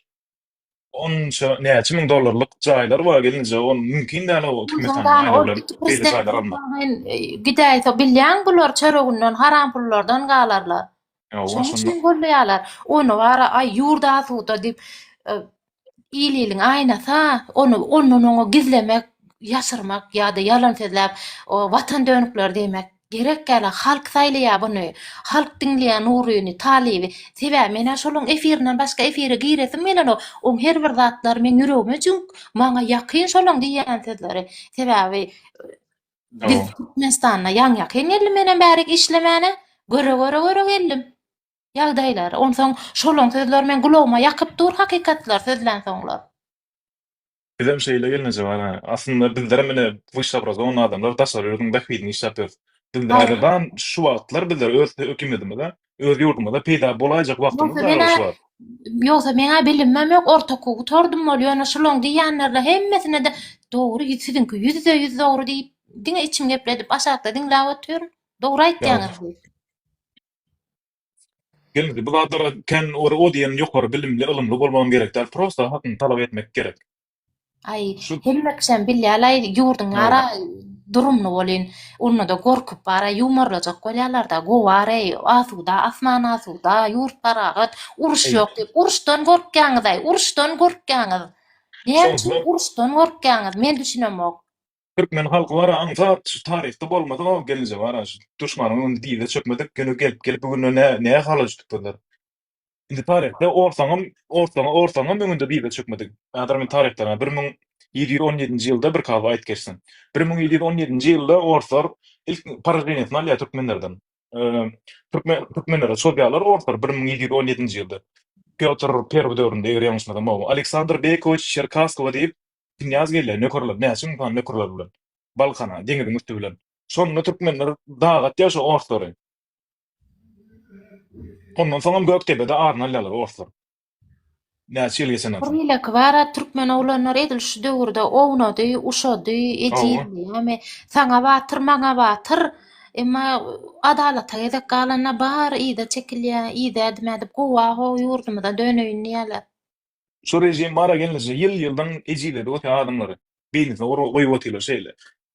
Onça näçe müň dollarlyk jaýlar bar gelinje, ol mümkin däl o Türkmenistanyň Ondan ol aýlawylan iki beýle prezident jaýlary almak. bolsaň sen e, gidäýse bilýäň bular çöreginden haram pullardan galarlar. Ýa, Şoň şonda üçin golleýärler. Ony bara aý ýurt asuda diýip e, il-iliň aýnasy-a, ony ondan oňa gizlemek, ýaşyrmak ýa-da ýalan sözläp, o watan dönükleri diýmek. Gerek ýaly halk saýlaýa buny, halk diňleýä Nuryny, Talyby, sebäbi men-ä şolaň efirinden başga efire giresim gelenok, oň her bir zatlary meň ýüregime jüňk, maňa ýakyn şolaň diýýän sözleri, sebäbi biz Türkmenistanda ýaňýakyn geldim menem bärik işlemäne, göre göre göre geldim ýagdaýlary, onsoň şolaň sözleri meň gulagyma ýakyp dur hakykatlar sözlänsoňlar. Bizem şeýle gelneje bar hä. Aslynda bizlerem ine wyshabrazowanyý adamlar daşary ýurduň bähbidine iş ýapýarys. Bizde Aý. häzirdan şu wagtlar bizler öz hökümetimize, öz ýurdumyza peýda bolaýjak wagtymyz Ýogsa bar men-ä, şu wagt. ýogsa meň-ä bilimem ýok, orta okuwy gutardym wol, ýöne şulaň diýýänlerine hemmesine-de dogry ýüz siziňki ýüzde ýüz dogry diýip diňe içimi gepledip aşakda diňläp otyryn. Dogry Ýa. aýtýaňyz diýip. Gelmedi. Bu zatlara kän bir o diýen ýokary bilimli, ylymly bolmagam gerek däl. Prosta hakyňy talap etmek gerek. Aý, Şu hemme kişem bilýär-laý, ýurduň Aý. ara durumly bolyn. Onda-da gorkup bara ýumarlajak bolýarlar-da, gowareý, asuda, asman asuda, ýurt parahat, uruş Aý. ýok diýip. Uruşdan gorkýaňyz-aý, uruşdan gorkýaňyz. Näme Şonda üçin uruşdan gorkýaňyz, men düşünemok. Türkmen halky bara aňsat şu taryhda bolmasa o gelince bara şu duşmanyň öňünde dize çökmedik güni gelip gelip bu günde nä nä hala jütüp durlar. Indi taryhda orsaňam orsaňa orsaňam öňünde dize çökmedik. Häzir men taryhdan bir müň ýedi ýüz on ýedinji ýylda bir kaba aýt geçsin. Bir müň ýedi ýüz on ýedinji ýylda orslar ilk poraženiýasyny alýar türkmenlerden. Türkme türkmenlere çozýarlar orslar bir müň ýedi ýüz on ýedinji ýylda Pýotr Perwy döwründe eger ýalňyşmasam o Aleksandr Beýkowiç Çerkasskowa diýip Knýaz gelýär nökerler, näçe müň sany nökerleri bilen. Balkana, deňiziň üsti bilen. Şonda türkmenler daga atýar şo orslary. Ondan soňam Gökdebede aryny alýarlar orslar. Näçe ýyl geçenden soň. Beýleki bara türkmen oglanlary edil şu döwürde ownady, uşady, ejizdi. Ýagny saňa batyr, maňa batyr. Emma adalata gezek galanda bary yza çekilýär, yza edme edip gowa gow ýurdumyza döneýin diýýärler. Şu režim bara gelneje ýyl-ýyldan ejiz-edip otyr adamlary. Beýnisine urgy goýup otyrlar şeýle.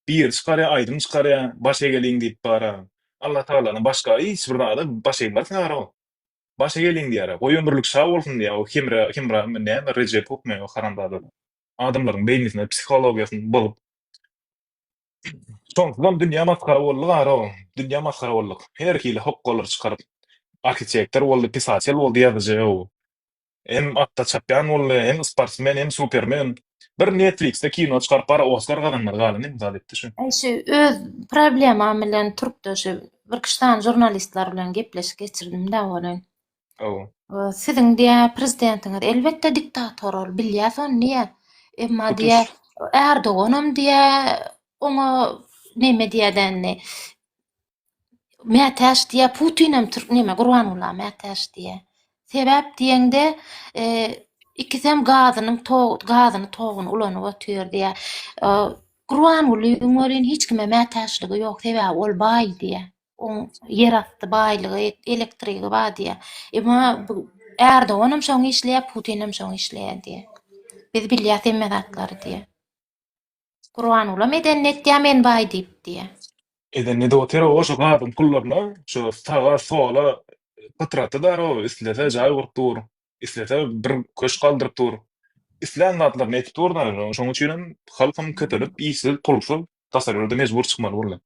Biri çykarýar, aýdym çykarýar, baş egeliň diýip bara. Alla Tagaladan başga hiç bir zada baş egmez karo. Baş egeliň diýer-ä. Goý ömürlik şa bolsun diýer o Hemra, Hemramy näme Rejep hökmany o haramzadalar. Adamlaryň beýnisini, psihologiýasyny bozup. Şonsuzam dünýä masgara boldy karo. Dünýä masgara boldyk. Her hili hokgalary çykaryp. Arhitektor boldy, pisatel boldy, ýazyjy. Hem atda çapýan boldy, hem sportsmen, hem supermen. Bir netfliksde kino çykaryp bara oskar gazanmaly galan indi zat etdi şu. Eý şu öz problemam bilen turupda şu bir kişi sany jurnalistler bilen gepleşik geçirdim da welin. Hawa. Siziň diýä prezidentiňiz elbetde diktator ol bilýäs ony diýä. Emma diýä Ärdoganam diýä oňa neme diýädenini. Mätäç diýýär, Putinem türk näme Gurbangulla mätäç diýýär. Sebäp diýeňde, e, ikisem gazynyň tog gazyny toguny ulanyp otyr diýýär. E, Gurbanguly welin hiç kime mätäçligi ýok, sebäbi ol baý diýýär. Oň ýerasty baýlygy, elektrigi bar diýýär. Emma bu Erdoganam şoňa işleýär, Putinem şoňa işleýär diýýär. Biz bilýäs hemme zatlary diýýär. Gurbangulam edenini etýär men baý diýip diýýär. Edenini edip otyr-ow oşo gazyň pullaryna şo saga sola pytratdy daro-ow islese jaý gurup dur, islese bir köşk aldyryp dur. Islän zatlaryny edip dur daro şoň üçinem halkam köpelip işsiz pulsuz tassar ýurda mejbur çykmaly boldy.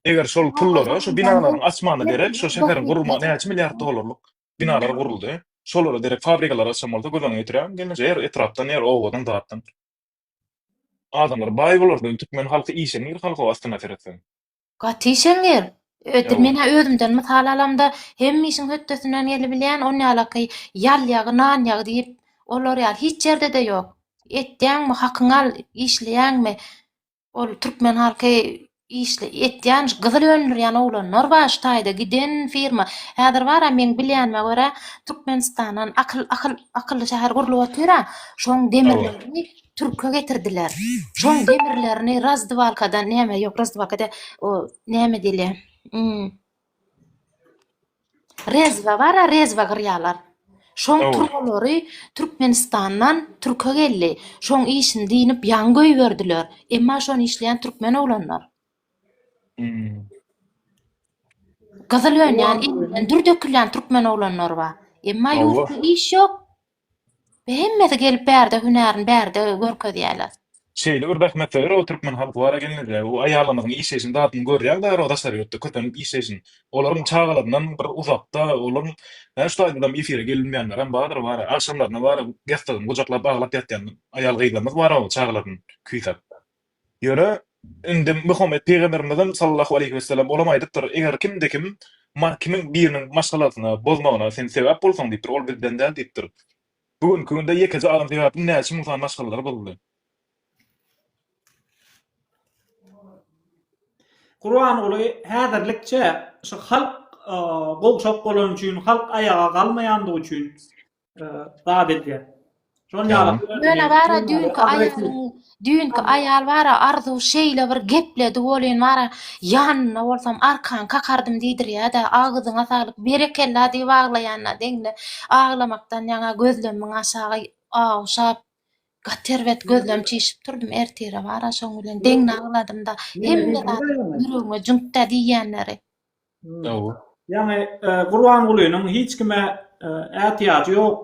Eger şol pullara şu binalaryň açmana derek şu şäheriň gurulmagy näçe milliard dollarlyk binalar guruldy. Şolara derek fabrikalar açan bolsa göz öňüňe getirýäň gelneje her etrapdan her obadan zatdan adamlar baý bolardy indi türkmen halky işeňňir halk o astyna seretseň. Gaty işeňňir. Öýdüp men ha özümden mysal alamda hemme işiň hötdesinden gelibilýän on ýalaky ýal ýagy nan ýagy diýip olar ýaly hiç ýerde-de ýok. Etýäňmi hakyňy al işleýäňmi Ol türkmen halky işle etýän gyzyl öndürýän oglanlar bar şu taýda giden firma häzir bara meň bilýänime görä türkmenistandan akyl akyl akylly şäher gurlup otyra şoň demirlerini türke getirdiler şoň demirlerini razdywalkadan näme ýok razdywalka däl o näme diýilýär Rezba bar-a, rezba gyrýarlar. Şoň Hawa. turbalary Türkmenistandan türke geldi. Şoň işini diýnip ýaňy goýberdiler. Emma şony işleýän türkmen oglanlar. Hmm. Gyzyl önýän, Olar- elinden dür dökülýän türkmen oglanlary bar. Emma Hawa. ýurtda iş ýok. Hemmesi gelip bärde hünärini bärde görkezýäler. Şeýle bir zähmetde örä türkmen halky bar ekenligi, bu aýallarymyzyň işleýşiniň dadyny görýäň bäri daşary ýurtda köpenip işleýşini. Olaryň çagalaryndan bir uzakda, olaryň şu taýdadam efire gelinmeýänlerem bardyr, bara agşamlaryna bara gestagyn gujaklap aglap ýatýan aýal-gyzlarymyz bar o çagalaryny küýsäp. Ýöne, indi Muhammet pygamberimizem, sallallahu aleýhi wesellem, olam aýdypdyr, Eger kimde kim maň kimin biriniň maşgalasyna, bozmagyna sen sebäp bolsaň, diýipdir, ol bizden däl, diýipdir. Bu günki günde ýekeje adam sebäpli näçe müň sany maşgalalar bozuldy. Gurbanguly häzirlikçe şu halk gowşak bolany üçin, halk aýaga galmaýandygy üçin zat edýär. Şol ýaly. Ýöne bara düýnki aýalyň, düýnki aýal bara Arzuw şeýle bir gepledi welin bara ýanynda bolsam arkan kakardym diýdirýär-de, agzyňa saglyk, berekella diýip aglaýanyna deňli. Aglamakdan ýaňa gözlemiň aşagy awşap, gaty erbet gözlem çişip durdum ertire bara şoň bilen deňli agladym-da. Hemme zat ýüregime jüňkdä diýýänleri. Dawud. Ýagny Gurbangulynyň hiç kime ätiýajy ýok,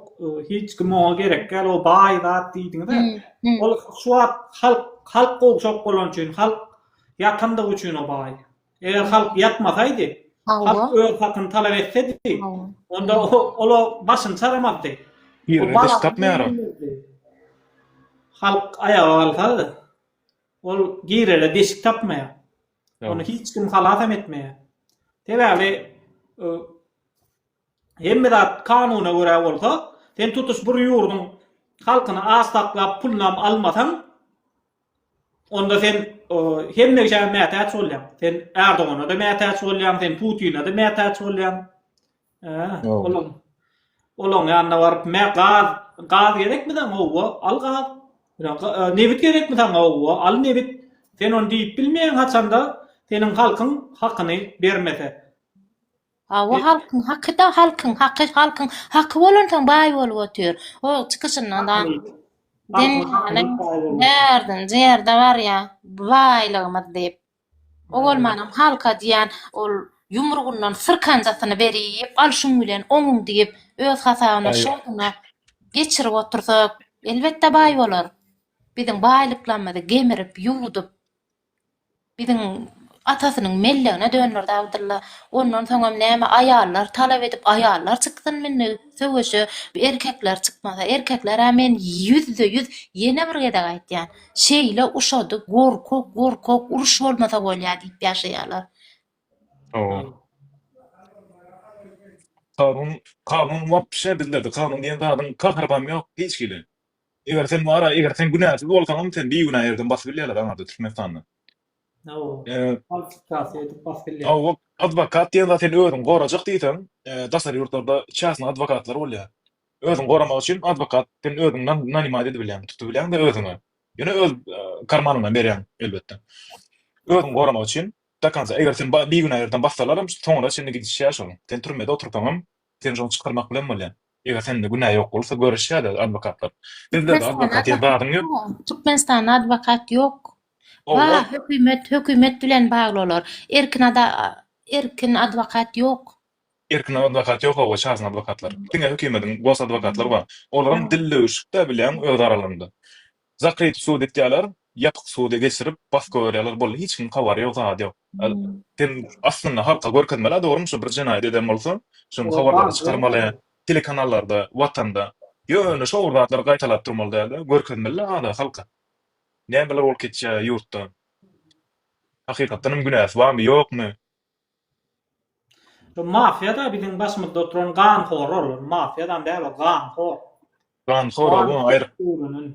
hiç kim oňa gerek däl, o baý zat diýdiňiz-ä. Ol şu wagt halk, halk gowşak bolany üçin, halk ýatandygy üçin o baý. Eger halk ýatmasaýdy, halk öz hakyny talap etsedi, onda ol başyny çaramazdy. Ýerine diş gapmaýar ol. Halk aýaga galsady, ol girele deşik tapmaýar. Ony hiç kim halasam etmeýär. Sebäbi hemme zat kanuna görä bolsa, sen tutuş bir ýurduň halkyny aç saklap, pulunam almasaň, onda sen hemmeşä mätäç bolýaň. Sen Erdogana-da mätäç bolýaň, sen Putina-da mätäç bolýaň. Olam. Olam ýanyna baryp, "Me gaz, gaz gerekmi saňa? Howwa, al gaz. Nebit gerekmi saňa? Howwa, al nebit. Sen ony diýip bilmeýäň haçanda seniň halkyň hakyny bermese. Howwa, halkyň haky-da, halkyň haky, halkyň haky bolan soň baý bolup otyr. O çykyşyndan da derdinde barýa, baýlygymyz diýip. O bolmanam halka diýýän ol ýumrugyndan syrkanjasyny berip, al şuň bilen oňuň diýip, öz hasabyna, şoýuna geçirip otursa, elbetde baý bolar. Biziň baýlyklarymyzy gemirip, ýuwdup, biziň atasynyň mellegine dönderdi Abdylla. Ondan soňam näme aýallar talap edip, aýallar çyksyn indi söweşe, erkekler çykmasa, erkekler-ä men ýüzde-ýüz ýene bir gezek aýtýan, şeýle uşady gorkak gorkak uruş bolmasa bolýa diýip ýaşaýarlar. Kanun kanun wapşe bizlerde kanun diýen zadyň kahrybam ýok hiç hili. Eger sen wara eger sen günäsiz bolsaňam sen bigünä ýerden basyp bilýärler aňarda Türkmenistanda. Hawa adwokat diýen zat sen özüňi gorajak diýseň daşary ýurtlarda çäsne adwokatlar bolýa. Özüňi goramak üçin adwokat sen özüň nanimad edip bilýäň, tutup bilýäňde özüňi. Ýöne öz karmanyňdan berýäň elbetde. Özüňi goramak üçin do konca eger seni bigünä ýerden bassalaram soňuna çenli gidişýär şol. Sen türmede otursaňam seni şoň çykarmak bilen bolýar. Eger sende günä ýok bolsa görüşýärler adwokatlar. Sizlerde adwokat diýen zadyň ýok. Türkmenistanda adwokat ýok. Bar hökümet, hökümet bilen bagly olar. Erkin ada erkin adwokat ýok. Erkin adwokat ýok oba çarsyn adwokatlar diňe hökimediň gos adwokatlary bar olaram dil döwüşikdä bilýäň öz aralarynda zakryty sud etýäler ýapyk suda geçirip baska görýäler boldy hiç kim habary ýok zady ýok sen aslynda halka görkezmelä dogrymy şu bir jenaýat eden bolsa şuny habarlara çykarmaly telekanallarda watanda ýöne şobir zatlary gaýtalap durmaly dälde görkezmelä ada halka nämeler bolup geçýä ýurtda hakykatdanam günäsi barmy ýokmy. Bu mafiýada biziň başymyzda oturan ganhor ol mafiýadam däl ol ganhor. Ganhor ol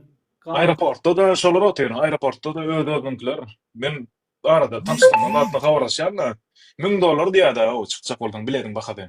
aýroportda da şolar otyr aýroportda da öz özüňkiler men arada tanyşdym zatly habarlaşýan da müň dollar diýýäda ow çykjak bolsaň biletin bahasy.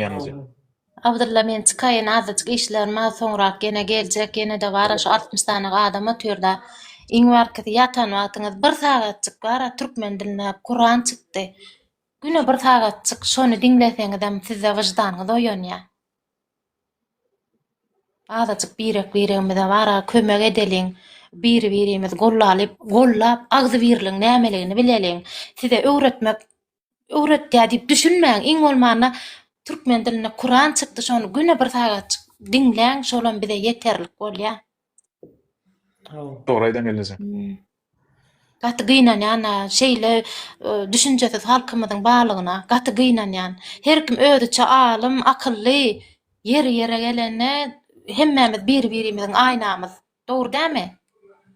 Ýanyňyzy. Abdylla men çykaýyn azajyk işlerim bar soňrak ýene geljek ýenede bara şu altmyş sany adam otyrda iň barkysy ýatan wagtyňyz bir sagatjyk bara türkmen dilinde kuran çykdy güne bir sagatjyk şony diňleseňizem sizde wyždanyňyz oýanýa azajyk birek biregimize bara kömek edeliň biri birimiz gollalyp gollap agzybirligiň nämeligini bileliň size öwretmek öwretýär diýip düşünmäň. Iň bolmanda türkmen dilinde Kuran çykdy, şony güne bir sagatjyk diňläň, şolam bize ýeterlik bolýar. Dogry aýdaň gelneje. Gaty gynanýan-a şeýle düşünjesiz halkymyzyň barlygyna. Gaty gynanýan. Her kim özüçe alym, akylly. Ýeri-ýere gelende hemmämiz bir-birimiziň aýnamyz. Dogry dämi?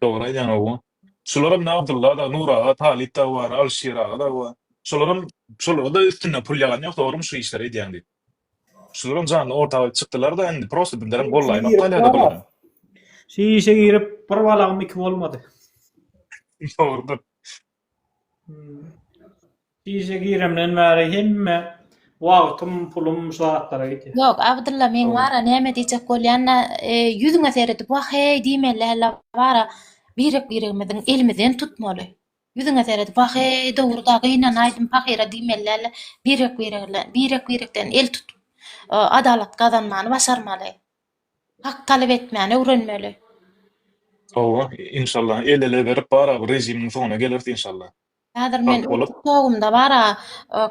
Dogry aýdýaň awa. Şularam ine Abdylla dagy, Nur aga, Talyp dagy bar, Alyşir aga dagy bar. Şolaram, şolara-da üstünden pul ýagan ýok dogrymy şu işleri edýäň diýip. Şularam janly ortak bolup çykdylar-da indi prosta birlerem gollaýmak galýa-da bulara. Şu işe girip bir balagym iki bolmady. Dogrudyr. Işe giremden bäri hemme wagtym, pulum şu zatlara gidýär. Ýok, Abdylla meň wara näme diýjek bolýan-da, ýüzüňe seredip wah-heý diýmeli däl-de wara, birek-biregimiziň elimizden tutmaly. Ýüzüňe seredip wah-heý, dogry-da gynanaýdym pahyra diýmeli däl-de, birek-biregden el tutup, adalat gazanmany başarmaly. Hak talap etmäni öwrenmeli. Hawa, inşallah el-ele berip bara bu rejimiň soňuna geleris inşallah. Häzir men öz tiktogymda bara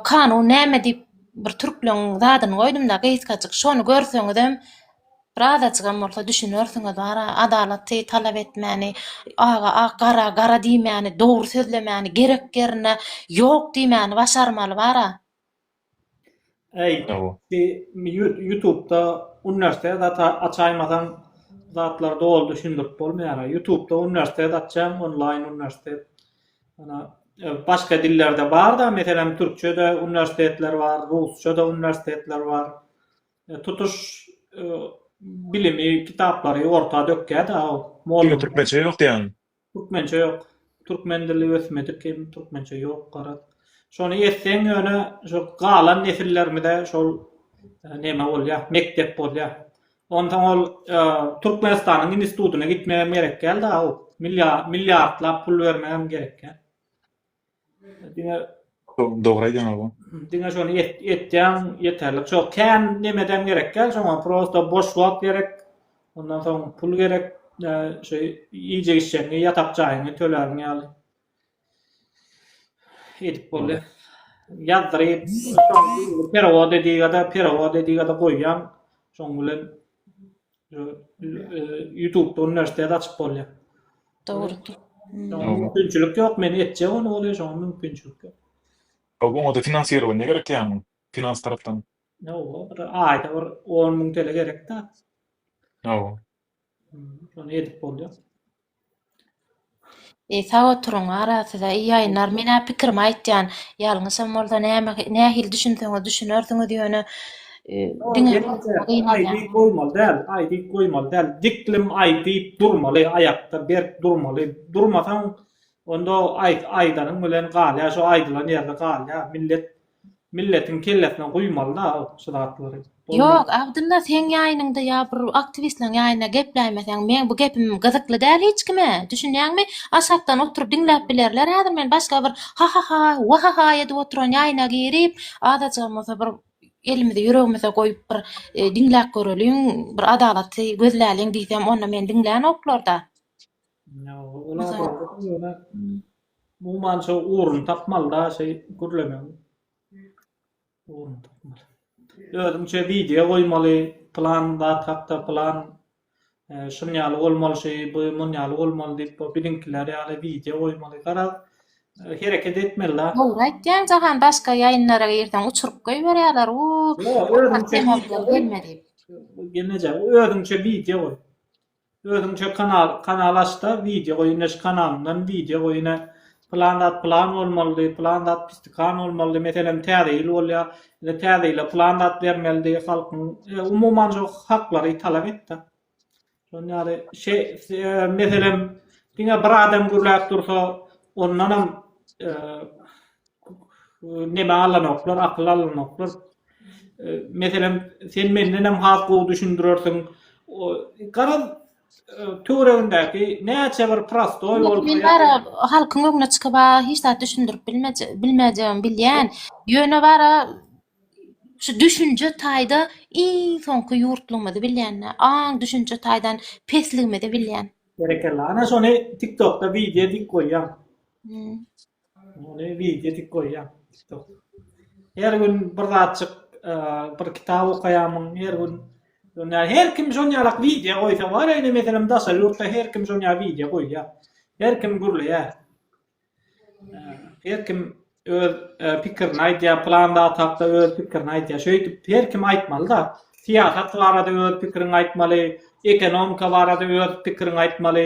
kanun näme diýip bir türkleň zadyny goýdumda gysgajyk şony görseňizem bir azajygam bolsa düşünersiňiz bara adalaty talap etmäni aga ak gara gara diýmäni dogry sözlemäni gerek ýerine ýok diýmäni başarmaly bara. Eý, bi ýutubda uniwersitet açaýmasaň zatlar doly düşündirip bolmaýara. Ýutubda uniwersitet açýaň, onlaýn uniwersitet. Ýöne başga dillerde bar-da, meselem, türkçe-de uniwersitetler bar, rusça-da uniwersitetler bar. Tutuş bilimi, kitaplary orta dökýär-de. Türkmençe ýok diýýäňmi? Türkmençe ýok. Türkmen dili ösmedik hem türkmençe ýok garaz. Şony etseň ýöne şu galan nesillerimize şol neme bolýar, mekdep bolýar. Onsoň ol Türkmenistanyň institutyna gitmegem gerek däl-de aw. Milliartlap pul bermegem gerek däl. Diňe Dogry aýdýaň aga. Diňe şony etýäň ýeterlik. Şo kän nemedem gerek däl, şoňa prosta boş wagt gerek. Ondan soň pul gerek. Şo iýjek içjegiňi, ýatak jaýyňy töläriň ýaly. Edip bolýar. Ýazdyryp, şoň perewod ediga-da, perewod ediga-da goýýaň. Şoň bilen Ýutubda uniwersitet açyp bolýar. Dogrudyr. Mümkinçilik ýok, men etjek ony bolýa, şoňa mümkinçilik ýok. Oňa-da finansirowaniýa gerek ýaňy, finans tarapdan. Ýoga, bir aýda bir on müň tele gerek-dä. Ýoga. Şony edip bolýar. E sag oturyň ara size i ýaýynlar men ä pikirimi aýtýan ýalňyşam bolsa näme nähili düşünseňiz düşünersiňiz ýöne diňe aýdyp goýmaly däl aýdyp goýmaly däl diklm aýdyp durmaly aýakda berk durmaly durmasaň onda aýt aýdanyň bilen galýa şo aýdylan ýerde galýa millet Milletiň kellesine guýmalyda şu zatlary. Ýok Abdylla seň ýaýynyňda ýa bir aktiwistleň ýaýynda gepläýmeseň meň bu gepim gyzykly däl hiç kime düşünýäňmi aşakdan oturyp diňläp bilerler häzir men başga bir hahaha wahaha edip oturan ýaýyna girip azajygam bolsa bir elimizi ýüregimize goýup bir diňläp göreliň bir adalatly gözläliň diýsem onda meni diňlänoklarda. Umuman şo ugruny tapmalyda şeý gürlemegiň. Ugruny tapmaly. Özüňçe wideo goýmaly, plan zat hakda plan şun ýaly bolmaly şi, bu mun ýaly bolmaly diýip bu biziňkiler ýaly wideo goýmaly. Garaz, hereket etmelida. Dogry aýtýaň Jahan, başga ýaýynlara girseň uçuryp goýberýärler. U, Gelmedi. Özüňçe wideo goý. Özüňçe kanal kanal açda wideo goýun neşe kanalyndan wideo goýuna plan zat plan bolmalydy plan zat pistikan bolmalydy meselem täze ýyl bolýa ine täze ýyla plan zat bermelidi halkyň umuman şu haklary talap etda şon ýaly şe meselem diňe bir adam gürläp dursa ondanam Neme alanoklar, akyl alanoklar. Meselem, sen mendenem has gowy düşündirersiň. Garaz, töweregindäki näçe bir prostoý bolup. Men bara halkyň öňüne çykyp, hiç zat düşündirip bilmejegimi bilýän. Ýöne bara şu düşünje taýda iň soňky ýurtlygymyzy bilýän, aň düşünje taýdan pesligimizi bilýän. Berekella. Ana şony TikTokda wideo edip goýaň. Muny wideo edip goýýan. Her gün bir zatjyk bir kitap okaýamyň, her gün Ýöne her kim şon ýalak wideo goýsa bar, indi meselem daşa ýurtda her kim şon ýaly wideo goýýar. Her kim gürleýär. Her kim öz pikirini aýdýar, plan zat hakda öz pikirini aýdýar. Şeýdip her kim aýtmaly-da. Syýasat barada öz pikiriňi aýtmaly, ekonomika barada öz pikiriňi aýtmaly,